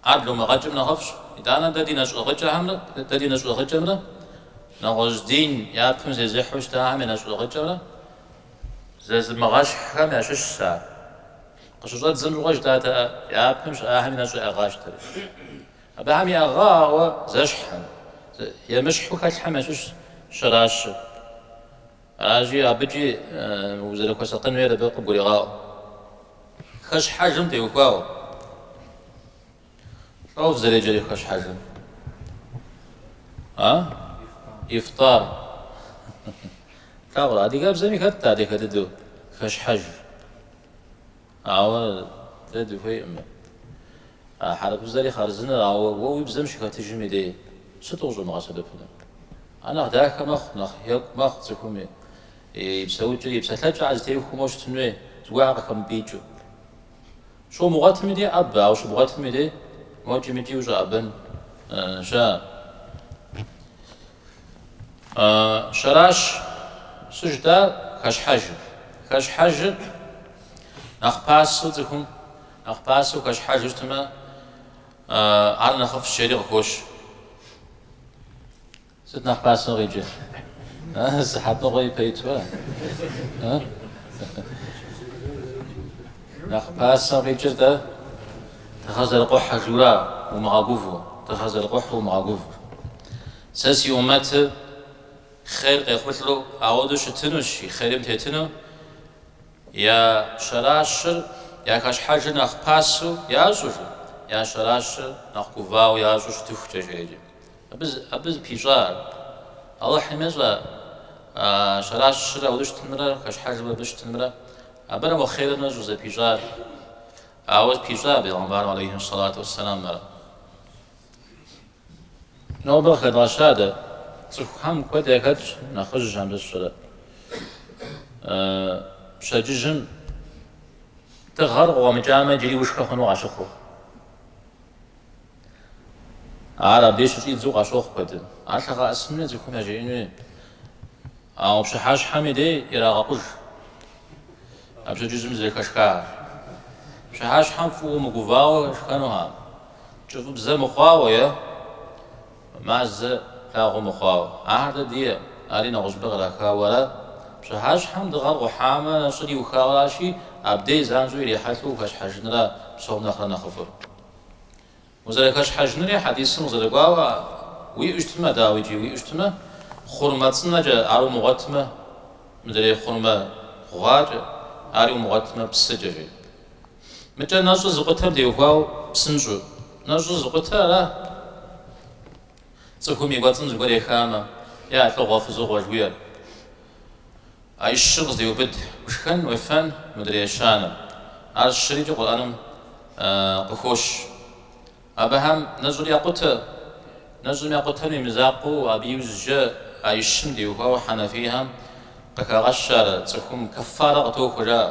ар блумыгъэкӏым нэхъыфӏщ. Итӏанэ дэ ди нэщӏ ӏыгъыкӏэхэмрэ, дэ ди нэщӏ ӏыгъыкӏэмрэ нэгъуэщӏ дин япэм зезыхьу щытахэм я нэщӏ ӏыгъыкӏэмрэ зэзымыгъэщхьхэм ящыщщ ар. Къыщыщӏэддзэм щыгъуэ жытӏатэ япэм щыӏахэми нэщӏ яӏыгъащ, дэри Абыхэм яӏыгъауэ зэщхьым, емыщхьу хэлъхэм ящыщщ щэращыр. Аращи, абыкӏи узэрыхуэсакъын хуейр абы къыбгурегъаӏуэ. Хэщхьэжым теухуауэ. Лӏо зэреджэри хэщхьэжым. А? Ифтар. Плъагъурэ, адыгэбзэми хэтщ адыгэ дыдэу хэщхьэж. Ауэ дэ дыхуейкъым. А хьэрыпыбзэри хъарзынэщ, ауэ уэ уи бзэм щыхэтыжым идей сыту къыщӏумыгъэсэбэпыну? Ар нэхъ дахэ мэхъу, нэхъ екӏу мэхъу цӏыхум и и псэукӏэр, и псэлъэкӏэр зэтехуэу моуэ щытын хуей, зыгуэрхэр къыхэмыпӏикӏыу. Щумыгъуэтым идей ӏэбэ, ауэ щыбгъуэтым идей мокӏи мыкӏи ущӏэӏэбэн щыӏэ? Щэращ сыт жытӏар, хэщхьэжыр. Хэщхьэжыр Нэхъ пасэу цӏыхум нэхъ пасэу хэщхьэжу щытмэ, ар нэхъыфӏщ жери къыхощ. Сыт нэхъ пасэу къикӏыр? Сыхьэтыгъуэ ипэ итуэ? Нэхъ пасэу къикӏыр дэ дыгъэ зэрыкъухьэжу ара, умыгъэгуву, дыгъэ зэрыкъухьу умыгъэгуву. Сэ си умэтыр хъер къехъулӏэу ауэдэу щытынущ, и хъерим тетыну, Я щэращыр я хэщхьэжыр нэхъ пасэу ящӏу, я щэращыр нэхъ гувауэ ящӏу щытыхукӏэ жеӏэ икӏи абы, абы зыпищӏар. Алыхьым ещӏэ а щэращыр ауэдэ щытынымрэ хэщхьэжым абы щытынымрэ. Абырэ мо хъерыр нэщӏыр зыпищӏар. Ауэ пищӏа бегъымбарым алейхьи сэлату уэсэлам ар. Нобэ къыхэдгъэща дэ. Цӏыхухэм куэд яхэтщ нэхъыжь абы сщӏэрэ. Пщэдджыжьым дыгъэр къыкъуэмыкӏамэ, иджыри ушхэ хъуну къащыхъур. Ар абдей щыщӏидзу къащохъу куэдым. Ар ялъэгъэӏэсын хуей, цӏыхум яжеӏэн хуей. Ауэ пщыхьэщхьэми дей ирагъэкъуж а пщэдджыжьым зэрыхэшхар. Пщыхьэщхьэм фӏыуэ мыгувауэ шхэнухэкъым. Кӏыфӏыбзэ мыхъуауэ е мазэ лъагъуэ мыхъуауэ, ахэр дэ дие, ари нэгъуэщӏыпӏэ кърахауэ ара. Пщыхьэщхьэм дыгъэр къухьамэ, нэщӏыр иухауэ аращи, абдей занщӏэу ирихьэлӏэу ухэщхьэжынра псом нэхърэ нэхъыфӏыр. Узэрыхэщхьэжынри хьэдисым къызэрыкӏуауэ уиӏэу щытмэ, дауикӏи уиӏэу щытмэ, хъурмэ цӏынэкӏэ, ар умыгъуэтмэ, мыдрей хъурмэ гъуакӏэ, ари умыгъуэтмэ, псыкӏэ, жи. Мыкӏэ нэщӏыр зыкъутэм теухуауэ псынщӏэу. Нэщӏыр зыкъутэра цӏыхум и кӏуэцӏым зыгуэр ехамэ, е а лӏыгъуэ-фызыгъуэ жыхуиӏэр. А и щыр къыздеубыд, ушхэн уефэн мыдрей щанэм. Ар щырикӏи Къурӏэным къыхощ. Абыхэм нэщӏыр якъутэ. Нэщӏыр якъутэм и мызакъуэу абы иужькӏэ а и щым теухуауэ хьэнэфийхэм къыхагъэщар, цӏыхум кэффарэ къытохуэ жаӏэ.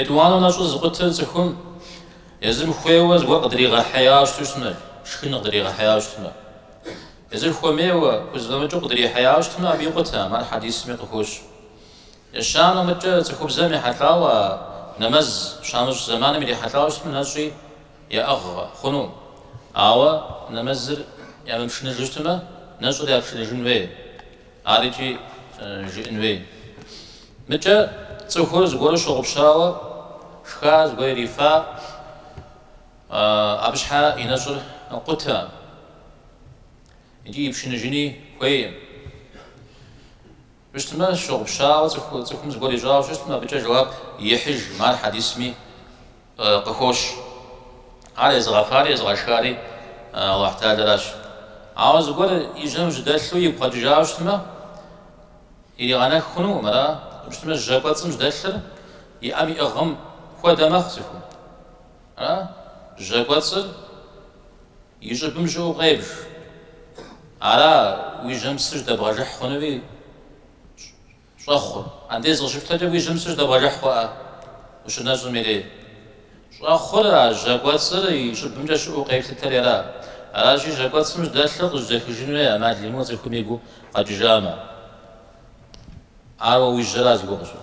Етӏуанэ нэщӏыр зыкъутэр цӏыхум езым хуейуэ зыгуэр къыдригъэхьеяуэ щыту щытмэ, шхын къыдригъэхьеяуэ щытмэ. Езыр хуэмейуэ, хузэфӏэмыкӏыу къыдрихьеяуэ щытмэ, абы икъутэкъым, ар хьэдисми къыхощ. Ещанэ мыкӏэ цӏыхубзэм ехьэлӏауэ а нэмэз щамыщӏ зэманым ирихьэлӏауэ щытмэ, нэщӏи яӏыгъ хъунукъым. Ауэ нэмэзыр ямыпшыныжу щытмэ, нэщӏыр япшыныжын хуей. Ар икӏи жыӏэн хуей. Мыкӏэ цӏыхур зыгуэру щыгъупщауэ шха, зыгуэр ирифа, абы щхьэ и нэщӏыр къутэкъым икӏи ипшыныжыни хуейкъым. Щытмэ, щыгъупщауэ цӏыхум зыгуэр ищӏауэ щытмэ, абыкӏэ жэуап ихьыжкъым, ар хьэдисми. къыхощ. Ар езыгъэфари езыгъэшхари Алыхьталэращ. Ауэ зыгуэр и жьэм жьдэлъу игу къэкӏыжауэ щытмэ, иригъэнэх хъунукъым, ара щытмэ жьэ кӏуэцӏым жьдэлъыр и ӏэм иӏыгъым хуэдэ мэхъу цӏыхум. Ара жьэ кӏуэцӏыр и щӏыбым щыӏэу къебж. Ара уи жьэм псы жьдэбгъэжыхь хъунуи Щӏэхъур. Андез къыщыпщтэкӏэ уи жьэм псы жьэдэбгъэжыхь хъуӏэ ущынэщӏым и дей. Щӏэхъур а жьэ кӏуэцӏыр и щӏыбымкӏэ щыӏэу къэплъытэри ара? Аращи, жьэ кӏуэцӏым жьэдэлъыр къыжьэдэхыжын хуей ӏэмал имыӏэу цӏыхум и гу къэкӏыжамэ. Ауэ уи жьэра зыгуэр къыщӏыр?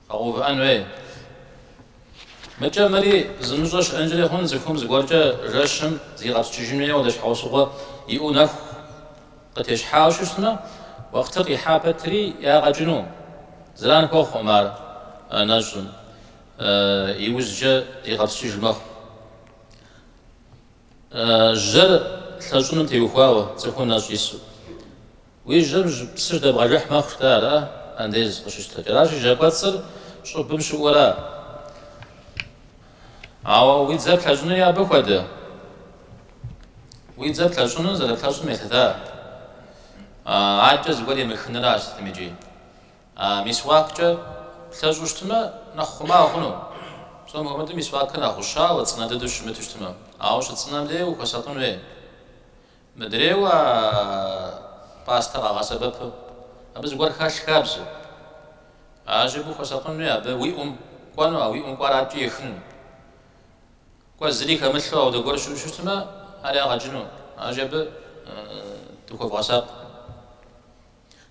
Къэгъэувыӏэн хуей. Мыкӏэ мыри зымыщӏэ щыӏэнкӏэри хъун, цӏыхум зыгуэркӏэ жэщым зигъэпскӏыжын хуейуэ ауэдэ щхьэусыгъуэ иӏэу нэху къытещхьауэ щытмэ, уэхътыр къихьа пэтри ягъэ кӏыну. Зэран хуэхъуӏым ар нэщӏым, иужькӏэ зигъэпскӏыж мэхъу. Жьэр лъэщӏыным теухуауэ цӏыхум нэщӏ ису. Уи жьэм псы жьэдэбгъэжыхь мэхъу-тэ ара, андез къыщыпщтэкӏэ. Аращи, жьэ кӏуэцӏыр щӏыбым щыӏэу ара? Ауэ уи дзэр плъэщӏынуи абы хуэдэ. Уи дзэр плъэщӏыну зэрыплъэщӏым елъыта? Адэкӏэ зыгуэр емыхынращ сытмикӏи. Мисуаккӏэ плъэщӏу щытмэ, нэхъ хъума хъуну? Псом хуэмыдэу мисуакыр нэхъ гъущауэ, цӏынэ дыдэу щымыту щытмэ. Ауэ щыцӏынэм дей ухуэсакъын хуей. Мыдрейуэ а пастэ къагъэсэбэпу, абы зыгуэр хэлъ хабзэу. Аращи абы ухуэсакъын хуей, абы уи ӏум кӏуэну, а уи ӏум кӏуар адэкӏи ехыну. Кӏуэ зыри хэмылъу ауэдэ гуэр щыӏэу щытмэ, ари ягъэ кӏыну. Аращи абы дыхуэвгъэсакъ.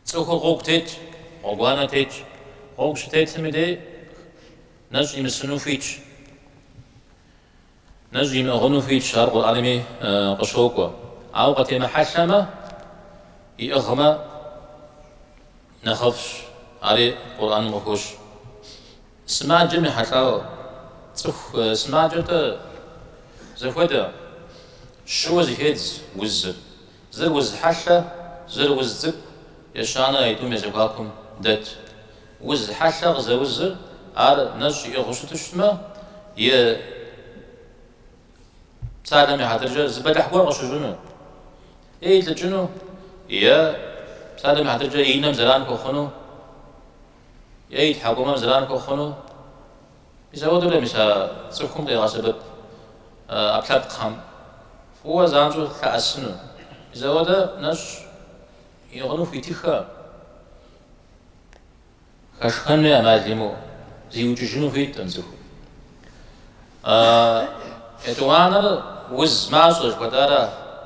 Цӏыхур гъуэгу тетщ, гъуэгуанэ тетщ. Гъуэгу щытетым и дей, нэщӏ имысыну хуитщ. Нэщӏ имыӏыгъыну хуитщ, ар Къурӏэнми къыщокӏуэ. Ауэ къытемыхьэлъэмэ, иӏыгъмэ нэхъыфӏщ, ари Къурӏэным къыхощ. Сымаджэм ехьэлӏауэ, цӏыху сымаджэ-тӏэ зэхуэдэ, щыуэ зыхедз узыр, зыр уз хьэлъэ, зыр уз цӏыкӏу, ещанэ а тӏум я зэхуакум дэт. Уз хьэлъэ къызэузыр ар нэщӏ иӏыгъыу щыту щытмэ, е псалъэм и хьэтыркӏэ зы бэлыхь гуэр къыщыщӏыну, е илӏыкӏыну, е псалъэм и хьэтыркӏэ и нэм зэран хуэхъуну, е и тхьэкӏумэм зэран хуэхъуну, мис ауэдэурэ мис а цӏыхум къигъэсэбэп ӏэпкълъэпкъхэм фӏыуэ занщӏэу лъэӏэсыну. Мис ауэдэ нэщӏ иӏыгъыну хуитыххэ. Хэшхэн хуей амал зимыӏэу зиукӏыжыну хуиткъым цӏыхум. Етӏуанэр уз мащӏэ жыхуэтӏара?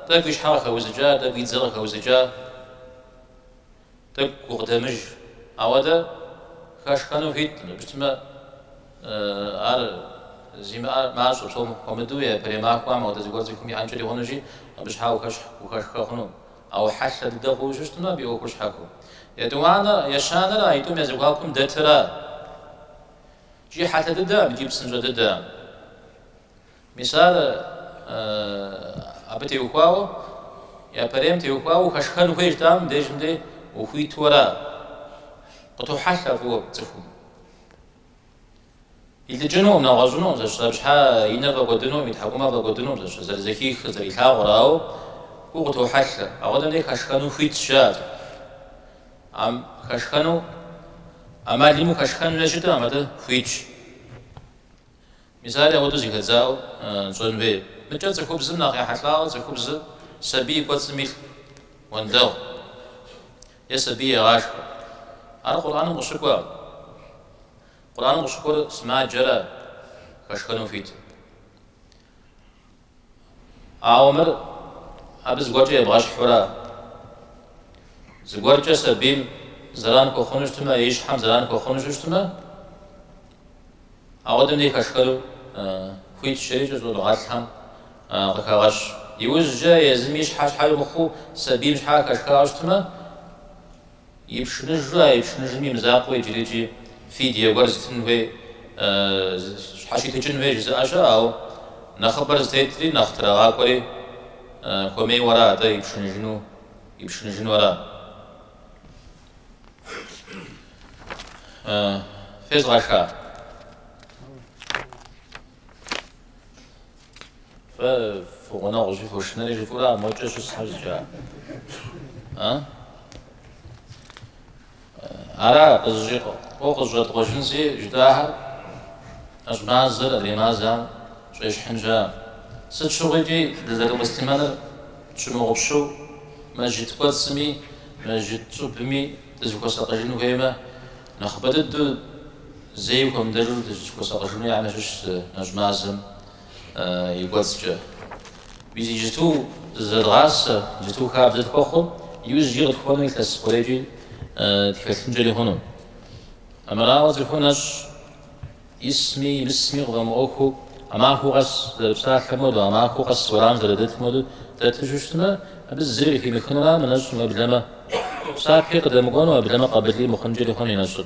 Тӏэкӏу и щхьэ къыхэузыкӏа, тӏэкӏу и дзэ къыхэузыкӏа, тӏэкӏу гукъыдэмыж. Ауэдэ хэшхэну хуиткъым. Сыту жыпӏэмэ, ар зимыӏэр мащӏэ, псом хуэмыдэу, япэрей махуэм ауэдэ зыгуэр цӏыхум иӏэнкӏэри хъунущи, абы щхьа ухэшхэ хъуну. Ауэ хьэлъэ дыдэ хъууи щыщытмэ, абы и ӏуэхур щхьэхуэ. Етӏуанэ, ещанэрэ а итӏум я зэхуакум дэтыра. Икӏи хьэлъэ дыдэкъым икӏи псынщӏэ дыдэкъым. Мисал абы теухуауэ, япэрейм теухуауэ ухэшхэн хуейщ дэ, а мыдежым де ухуиту ара. Къытохьэлъэ фӏыуэ цӏыхум. Илӏыкӏынукъым, нэгъуэщӏынукъым, зэщ зэпщхьэ и нэр фӏэкӏуэдынукъым, и тхьэкӏумэр фӏэкӏуэдынукъым, зэщ зэрызэхихыр, зэрилъагъур, ауэ гугъу къытохьэлъэ. Апхуэдэм дей хэшхэну хуитщ, жаӏэрт. Ам, хэшхэну, ӏэмал имыӏэу хэшхэн хуей щыту, ам абы хуитщ. Мисали, апхуэдэу зыхэдзаӏуэу щӏэн хуей. Мыкӏэ цӏыхубзым нэхъ ехьэлӏауэ цӏыхубзыр сабий и кӏуэцӏым илъ уэндэгъу е сабий егъашхэ. Ар Къурӏэным къыщыкӏуэкъым. Къурӏэным къыщыкӏуэр сымаджэра хэшхэну хуит. Ауэ мыр абы зыгуэркӏэ ебгъэщхьура. Зыгуэркӏэ сабийм зэран хуэхъуну щытмэ, и щхьэм зэран хуэхъуну щыщытмэ, апхуэдэм дей хэшхэну хуитщ жери икӏи щӏэныгъэлӏхэм къыхагъэщ. Иужькӏэ езым и щхьэ щхьэкӏэ мыхъуу сабийм щхьэкӏэ хэшхауэ щытмэ, Ипшыныжу, а ипшыныжым и мызакъуэ иджыри-икӏи фидие гуэр зытын хуей, щхьэщитыкӏын хуей жызыӏэ щыӏэ, ауэ нэхъыбэр зытетри, нэхъ трагъакӏуэри хуэмейуэ ара атӏэ ипшыныжыну, ипшыныжыну ара? Фезгъэша? Фэ фи гъунэгъу жыхуэшынэри жыфӏыра мокӏэ щысхэр зыкӏа? А? Ара къызыщӏи къо къызэщӏэткъуэжынщи жытӏахэр, нэщӏ мазэр адрей мазэм щӏещхьын щыӏэкъым. Сыт щыгъуи икӏи дызэрымуслъымэныр тщымыгъупщэу мэжджыт кӏуэцӏми мэжджыт щӏыбми дызыхуэсакъыжын хуеймэ, нэхъыбэ дыдэу Зэи хуэмыдэжу дыщыхуэсакъыжыну я нэщыщ зы нэщӏ мазэм и кӏуэцӏкӏэ. Мис иджыту зызэдгъасэ, иджыту хабзэ тхуэхъу, иужькӏи къытхуэну илъэс хъурейкӏи тхэлъынкӏэри хъуну. Армырауэ цӏыхур нэщӏ исми имысми къыфӏэмыӏуэхуу, а махуэ къэс зэрыпсалъэм хуэдэу, а махуэ къэс уэрамым зэрыдэтым хуэдэу дэту щыщытмэ, абы зыри къыхимыхынура мы нэщӏым, уеблэмэ псапи къыдэмыкӏуэну, уеблэмэ къабылри мыхъункӏэри хъуну и нэщӏыр.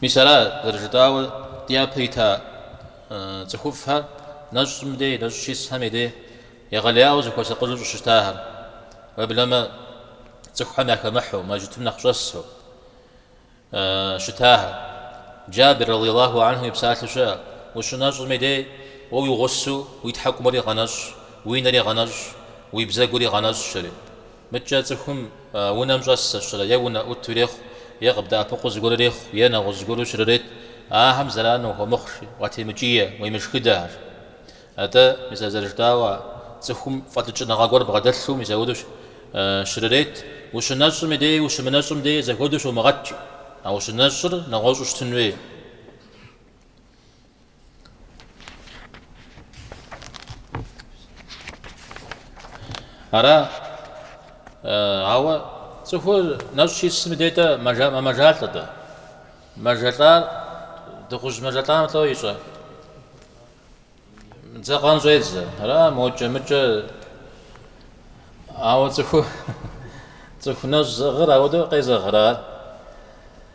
Мис а зэрыжытӏауэ дяпэ ита цӏыхуфӏхэр нэщӏым дей, нэщӏ щисхэм и дей егъэлеяуэ зыхуэсакъыжу щыщытахэр, уеблэмэ цӏыхухэм яхэмыхьу, мэжытым нэхъ щӏэсу щытахэр. Джабир, радиаллаху анху, и псалъэу щыӏэ, Ущынэщӏым и дей, уэ уи гъусэу уи тхьэкӏумэри гъэнэщӏ, уи нэри гъэнэщӏ, уи бзэгури гъэнэщӏ, жери. Мыдкӏэ цӏыхум унэм щӏэс зэщырэ е унэӏуту ирехъу, е къыбдэӏэпыкъуу зыгуэр ирехъу, е нэгъуэщӏ зыгуэру щрырет, ахэм зэран ухуэмыхъу жи, уатемыкӏие, уемышхыдэ жи. Атӏэ, мис а зэрыжытӏауэ, цӏыхум фӏэлӏыкӏыныгъэ гуэр бгъэдэлъу мис апхуэдэу щрырет, ущынэщӏым дей ущымынэщӏым дей зэхуэдэу щумыгъэт жи, а ущынэщӏыр нэгъуэщӏу щытын хуей. Ара, ауэ цӏыхур нэщӏ щисым и де дэ мэмэжалӏэ дэ. Мэжэлӏа дыгъужь мэжэлӏам лӏо ищӏэ. Дзэкъэн щӏедзэ. Ара мокӏэ мыкӏэ. Ауэ цӏыху цӏыху нэщӏ зыӏыгъыр ауэдэу къезэгърэ ар.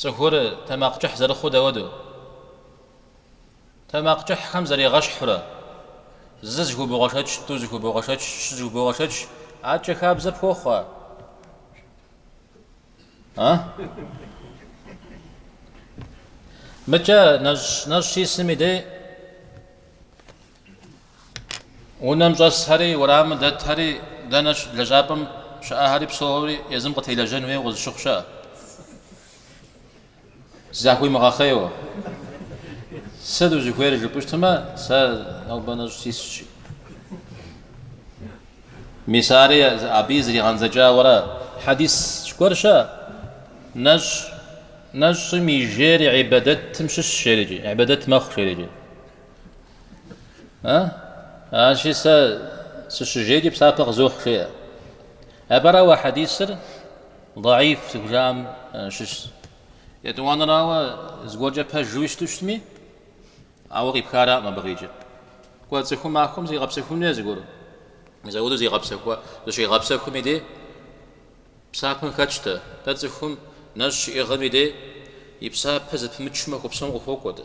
Цӏыхур тэмакъ кӏыхь зэрыхъуу дауэду? Тэмакъ кӏыхьхэм зарегъэщхьурэ, зы зыхубогъэшэч, тӏу зыхубогъэшэч, щы зыхубогъэшэч, адэкӏэ хабзэ пхуохъу, а? Мыкӏэ нэщӏ нэщӏ щисым и дей Унэм щӏэсхэри, уэрамым дэтхэри, дэнэ лэжьапӏэм щыӏэхэри псори езым къытелэжьэн хуейуэ къызыщыхъу щыӏэ. Захуимыгъэхъейуэ. Сыт узыхуейр жыпӏэу щытмэ, сэ нобэ нэщӏ сисщи. Мис ари абы зригъэндзэкӏауэрэ хьэдис зыгуэр щыӏэ. Нэщӏ нэщӏым и жейр ибадэтым щыщ жери, ибадэт мэхъу жери. А? Аращи сэ сыщыжейкӏи псапэ къызохь жеӏэ. Апэрауэ а хьэдисыр даиф зыхужаӏэм щыщ. Етӏуанэрауэ зыгуэркӏэ пэжуи щыту щытми, ауэ къипх араӏым абыгъикӏэ. Кӏуэ цӏыхум махуэм зигъэпсэхуну е зыгуэр? Мызэуду зигъэпсэхуа, зыщигъэпсэхум и де псапэм хэтщтэ. Дэ цӏыхум нэщӏ щиӏыгъым и де и псапэ зэпымычу махуэ псом къыхуокӏуэ дэ.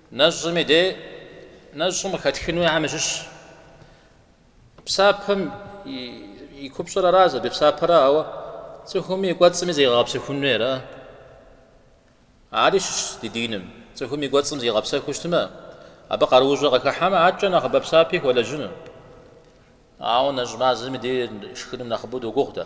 Нэщӏым и де нэщӏым къыхэтхынуи ахэм ящыщщ. Псапэм и купщӏэр ара зэрыпсапэр ара, ауэ цӏыхум и кӏуэцӏми зегъэгъэпсэхунуи ара. Ари щыщ ди диным. Цӏыхум и кӏуэцӏым зигъэпсэхуу щытмэ, абы къарущӏэ къыхыхьэмэ, адэкӏэ нэхъыбэ псапи хуэлэжьыну. Ауэ нэщӏ мазэм и де шхыным нэхъыбэу догугъу дэ.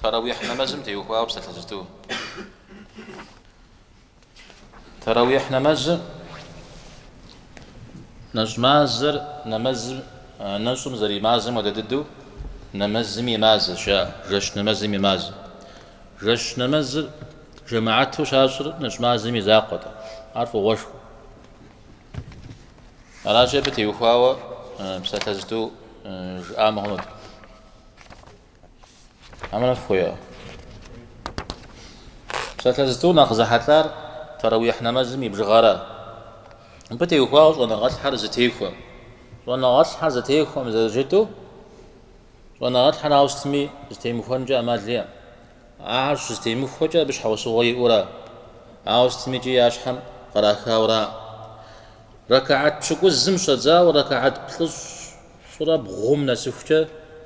Таравихь нэмэзым теухуауэ псалъэ зытӏу. Таравихь нэмэзыр нэщӏ мазэр нэмэзым нэщӏым зэримазэм хуэдэ дыдэу нэмэзым и мазэ ща жэщ нэмэзым и мазэ. Жэщ нэмэзыр жэмаату щащӏыр нэщӏ мазэм и закъуэт, ар фӏыгъуэшхуэ. Аращи абы теухуауэ псалъэ зытӏу жыӏа мыхъунут. Ӏэмал хуей. Псалъэ зытӏу нэхъ зэхьэлӏар таравихь нэмэзым и бжыгъэра. Мыбы теухуауэ щӏэныгъэлӏхьэр зэтехуэм. Щӏэныгъэлӏхьэр зэтехуэм зэрыжытӏэу, щӏэныгъэлӏхьэр ауэ сытми зытемыхуэнкӏэ ӏэмал иӏэм. Ахэр щызытемыхуэкӏэ абы щхьэусыгъуэ иӏэура, ауэ сытми икӏи я щхьэм кърахауэра. Рэкаат пщыкӏузым щӏэдзауэ рэкаат плӏыщӏ Щӏырэ бгъум нэсыхукӏэ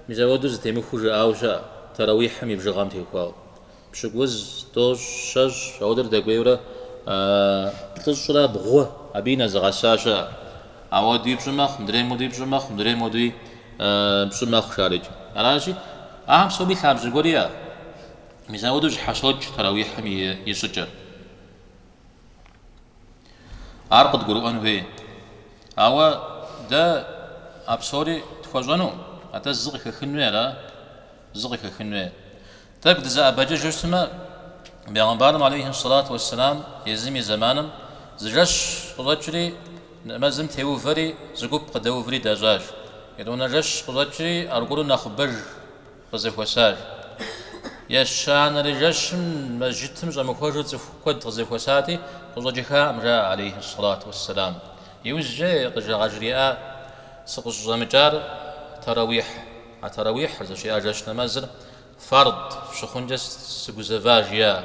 мизэуэду зытемыхуу жыӏауэ щыӏэ, тэрэуихьым и бжыгъэм теухуауэ. Пщыкӏуз, тӏощӏ, щэщӏ, ауэдурэ дэкӏуейурэ плӏыщӏрэ бгъу абыи нэзыгъэса щыӏэ. Ауэдуи пщӏы мэхъу, мыдрейм уэдуи пщӏы мэхъу, мыдрейм уэдуи пщӏы мэхъу шарыкӏэ. Аращи, ахэм псоми лъабжьэ гуэр иӏэ. Мизэуэду зэщхьэщокӏ тэрэуихьым и щӏыкӏэр. Ар къыдгурыӏуэн хуей. Ауэ дэ а псори тхуэщӏэну, атӏэ зы къыхэхын хуей ара? Зы къыхэхын хуей. Тӏэкӏу дызэӏэбэкӏыжу щытмэ, Бегъымбарым алейхи сэлату уэсселам езым и зэманым зы жэщ къыщӏэкӏри, нэмэзым теувэри, зы гуп къыдэуври дащӏащ. Етӏуанэ жэщ къыщӏэкӏри, аргуэру нэхъыбэж къызэхуэсащ. Ещанэрэ жэщым мэжытым щӏэмыхуэжу цӏыху куэд къызэхуэсати, къыщӏэкӏыхакъым, жаӏэ алейхьи сэлату уэсселам. Иужькӏэ къыжа къажриӏа, Сыкъыщӏыщӏэмыкӏар таравихь, а таравихьыр, зыщиӏа жэщ нэмэзыр, фард щыхъункӏэ сыгузэва, жиӏа.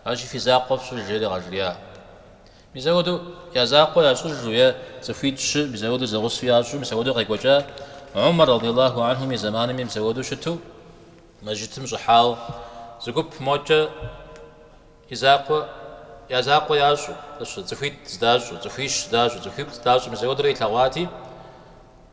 Аращи, фи закъуэ фщӏыж, жери къажриӏа. Мизэуэду я закъуэ ящӏыжу е цӏыхуитӏ щы мизэуэду зэгъусэу ящӏу мизэуэду къекӏуэкӏа Умар радыйаллаху анхум и зэманым мизэуэду щыту мэжытым щӏыхьауэ зыгуп мокӏэ и закъуэ я закъуэ ящӏу, цӏыхуитӏ здащӏу, цӏыхуищ здащӏу, цӏыхуиплӏ здащӏу мизэуэдурэ илъэгъуати,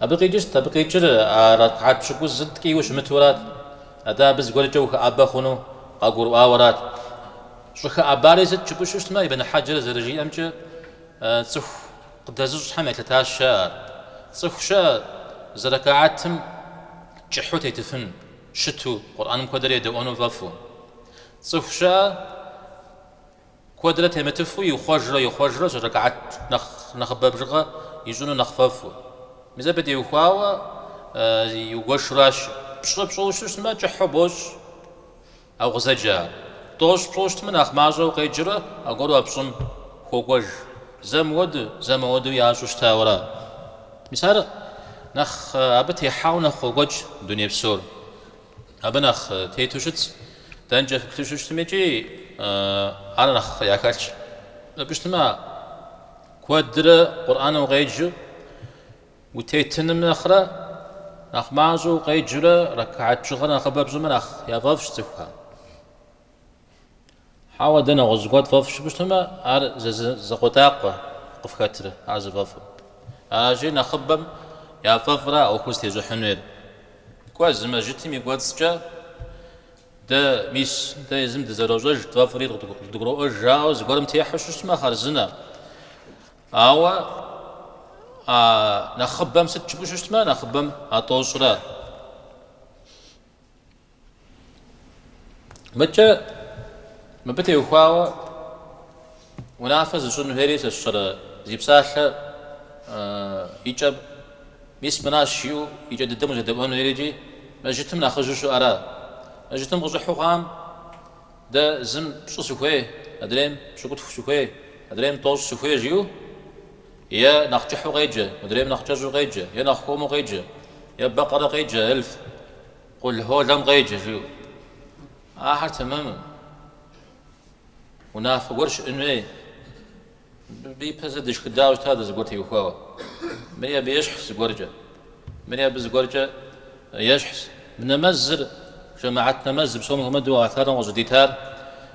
Абы къикӏыр сыт, абы къикӏыр а рэкаат пщыкӏузыр ткӏийуэ щымытурат. Атӏэ абы зыгуэркӏэ ухэӏэбэ хъуну къагурыӏуауэрат. Щӏыхэӏэбари сыт жыпӏу щытмэ, Ибн Хьэджэр зэрыжиӏэмкӏэ, цӏыху къыдэзыщӏхэм елъытащ ар. Цӏыху щыӏэ зы рэкаатым кӏыхьу тетыфыну щыту, Къурӏэным куэдрэ едэӏуэну фӏэфӏу. Цӏыху щыӏэ. Куэдрэ темытыфу ихъуэжрэ ихъуэжрэ щӏы рэкаат нэхъыбэ бжыгъэ ищӏыну нэхъ фӏэфӏу. Мис абы теухуауэ иугуэшуращ. Пщӏы пщӏыу щыщытмэ, кӏыхьу бощӏ, а укъызэджэр. Тӏощӏ пщӏыу щытмэ, нэхъ мащӏэу къеджэрэ аргуэру а пщӏым хуокӏуэж. Зэ мыуэду, зэ мыуэду ящӏу щытауэра. Мис ар нэхъ абы техьауэ нэхъ къокӏуэкӏ дуней псор. Абы нэхъ тету щытщ, дэнкӏэ фыплъэ щыщытми икӏи ар нэхъ яхэлъщ жыпӏэу щытмэ, куэдрэ Къурӏэн укъеджэу утетыным нэхърэ, нэхъ мащӏэу укъеджэурэ рэкаат бжыгъэр нэхъыбэ пщӏымэ нэхъ яфӏэфӏщ цӏыхухэм. Хьэуэ, дэ нэгъуэщӏ гуэр тфӏэфӏщ жыпӏэу щытмэ, ар зы закъуэтӏакъуэ къыфхэтрэ, ар зыфӏэфӏыр? Аращи, нэхъыбэм яфӏэфӏра ӏуэхур зытещӏыхьын хуейр? Кӏуэ, зы мэжьытым и кӏуэцӏкӏэ дэ, мис, дэ езым дызэрощӏэж, тфӏэфӏри дгуроӏуэж жаӏэу зыгуэрым техьу щыщытмэ, хъарзынэ. Ауэ а нэхъыбэм сыт жыпӏэу щыщытмэ, нэхъыбэм а тӏощӏра? Мыдкӏэ мыбы теухуауэ унафэ зыщӏын хуейри сэ сщӏэрэ зи псалъэ и кӏэ мис мынащ жиӏэу и кӏэ дыдэм узэдэӏуэн хуейрикӏи мэжытым нэхъыжьу щыӏэра? Мэжытым къыщӏыхьу хъуам дэ зым пщӏы сыхуей, адрейм пщыкӏутху сыхуей, адрейм тӏощӏ сыхуей жиӏэу е нэхъ кӏыхьу къеджэ, мыдрейм нэхъ кӏэщӏу къеджэ, е нэхъ хуэму къеджэ, е бэкъэрэ къеджэ, эльф. Къул Холэм къеджэ, жиӏэу. Ахэр тэмэму. Унафэ гуэр щыӏэн хуей. Мыбы ипэ зэ дышхыдауэ щыта дэ зыгуэр теухуауэ. Мыри абы ещхьщ зыгуэркӏэ. Мыри абы зыгуэркӏэ ещхьщ. Мы нэмэзыр, жэмыхьэт нэмэз, псом хуэмыдэу Алыхьталэм къыщӏыдитар,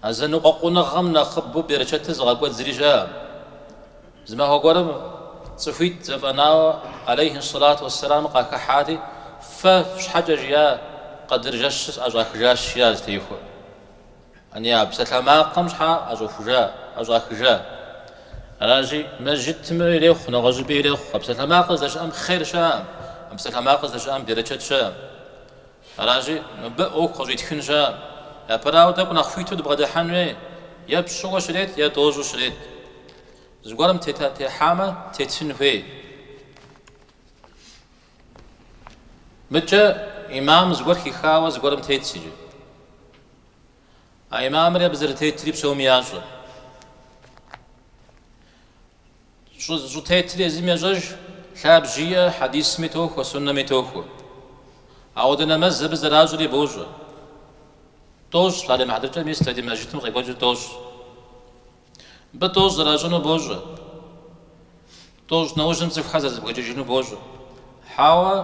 А зэныкъуэкъуныгъэм нэхъыбэу берычэтыр зыгъэкӏуэд зыри щыӏэкъым. Зы махуэ гуэрым цӏыхуитӏ зэфӏэнауэ алейхьи сэлату уэссэлам къахыхьэри, Фэ фщхьэкӏэ жиӏа къэдыр жэщыр сӏэщӏахыжащ, жиӏащ зытехуэр. Ани а псалъэмакъым щхьэ ӏэщӏохужа, ӏэщӏахыжа? Аращи, мэжьытым ирехъу, нэгъуэщӏыпӏи ирехъу. А псалъэмакъыр здэщыӏэм хъер щыӏэкъым, а псалъэмакъыр здэщыӏэм берычэт щыӏэкъым. Аращи, мыбы ӏуэху къыщӏитхын щыӏэкъым. Япэрауэ, тӏэкӏу нэхъ хуиту дыбгъэдыхьэн хуей, е пщӏыуэ щрет, е тӏощӏу щрет. Зыгуэрым тета техьамэ, тетын хуей. Мыдкӏэ имам зыгуэр хихауэ зыгуэрым тетщ икӏи а имамри абы зэрытетри псоми ящӏэ. Щӏытетыр езым ещӏэж, лъабжьэ иӏэ, хьэдисми тохуэ, суннэми тохуэ. Ауэдэ нэмэз абы зэращӏри бощӏэ. Тӏощӏ, псалъэм и хьэтыркӏэ, мис дэ ди мэжытым къекӏуэкӏыр тӏощӏ. Мыбы тӏощӏ зэращӏыну бощӏэ. Тӏощӏ нэужьым цӏыхухэр зэрызэбгрыкӏыжыну бощӏэ. Хьэуэ,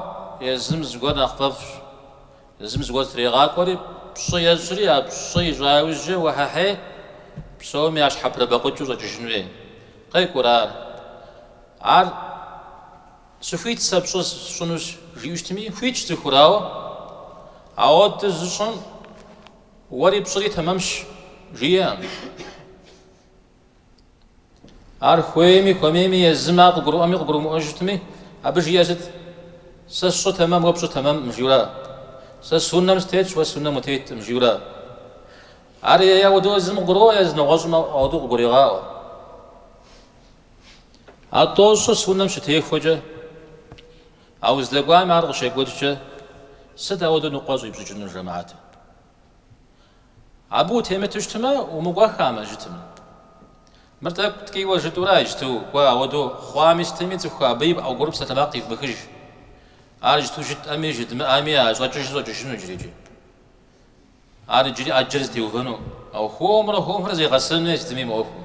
езым зыгуэр нэхъ фӏэфӏщ. Езым зыгуэр зытрегъакӏуэри, пщӏы ещӏри, а пщӏы ищӏа иужькӏэ уэхьэхьей, псоми я щхьэпрыбэкъукӏыу щӏэкӏыжын хуей. Къекӏурэ ар? Ар сыхуит сэ пщӏы сщӏынущ, жиӏэу щытми, хуитщ цӏыхур, ауэ ауэду зыщӏым уэри пщӏыри тэмэмщ, жиӏэкъым. Ар хуейми, хуэмейми, езым ар къыгурыӏуэми къыгурымыӏуэу щытми, абы жиӏэр сыт? Сэ сщӏыр тэмэм, уэ пщӏыр тэмэмкъым, жиура? Сэ суннэм сытетщ, уэ суннэм утеткъым, жиура? Ар е ауэдэу езым къыгурыӏуэ, езы нэгъуэщӏым ауэдэу къыгурегъаӏуэ. А тӏощӏыр суннэм щытехуэкӏэ, а уздэкӏуами ар къыщекӏуэкӏкӏэ, сыт ауэдэу ныкъуэ щӏипщӏыкӏынур жэмаӏэтым? Абы утемыту щытмэ, умыкӏуэхамэ, жытым. Мыр тӏэкӏу ткӏийуэ жытӏура иджту, кӏуэ, ауэду хъуами сытми цӏыху абы и пӏэгуры псалъэмакъ ивмыхыж. Ар иджту жытӏэми, жыдмыӏэми а щӏэкӏыжу щӏэкӏыжыну иджыри. Ар иджыри ӏэджэр зытеувэну, ауэ хуэмурэ хуэмурэ зегъэсэну сытми мы ӏуэхум.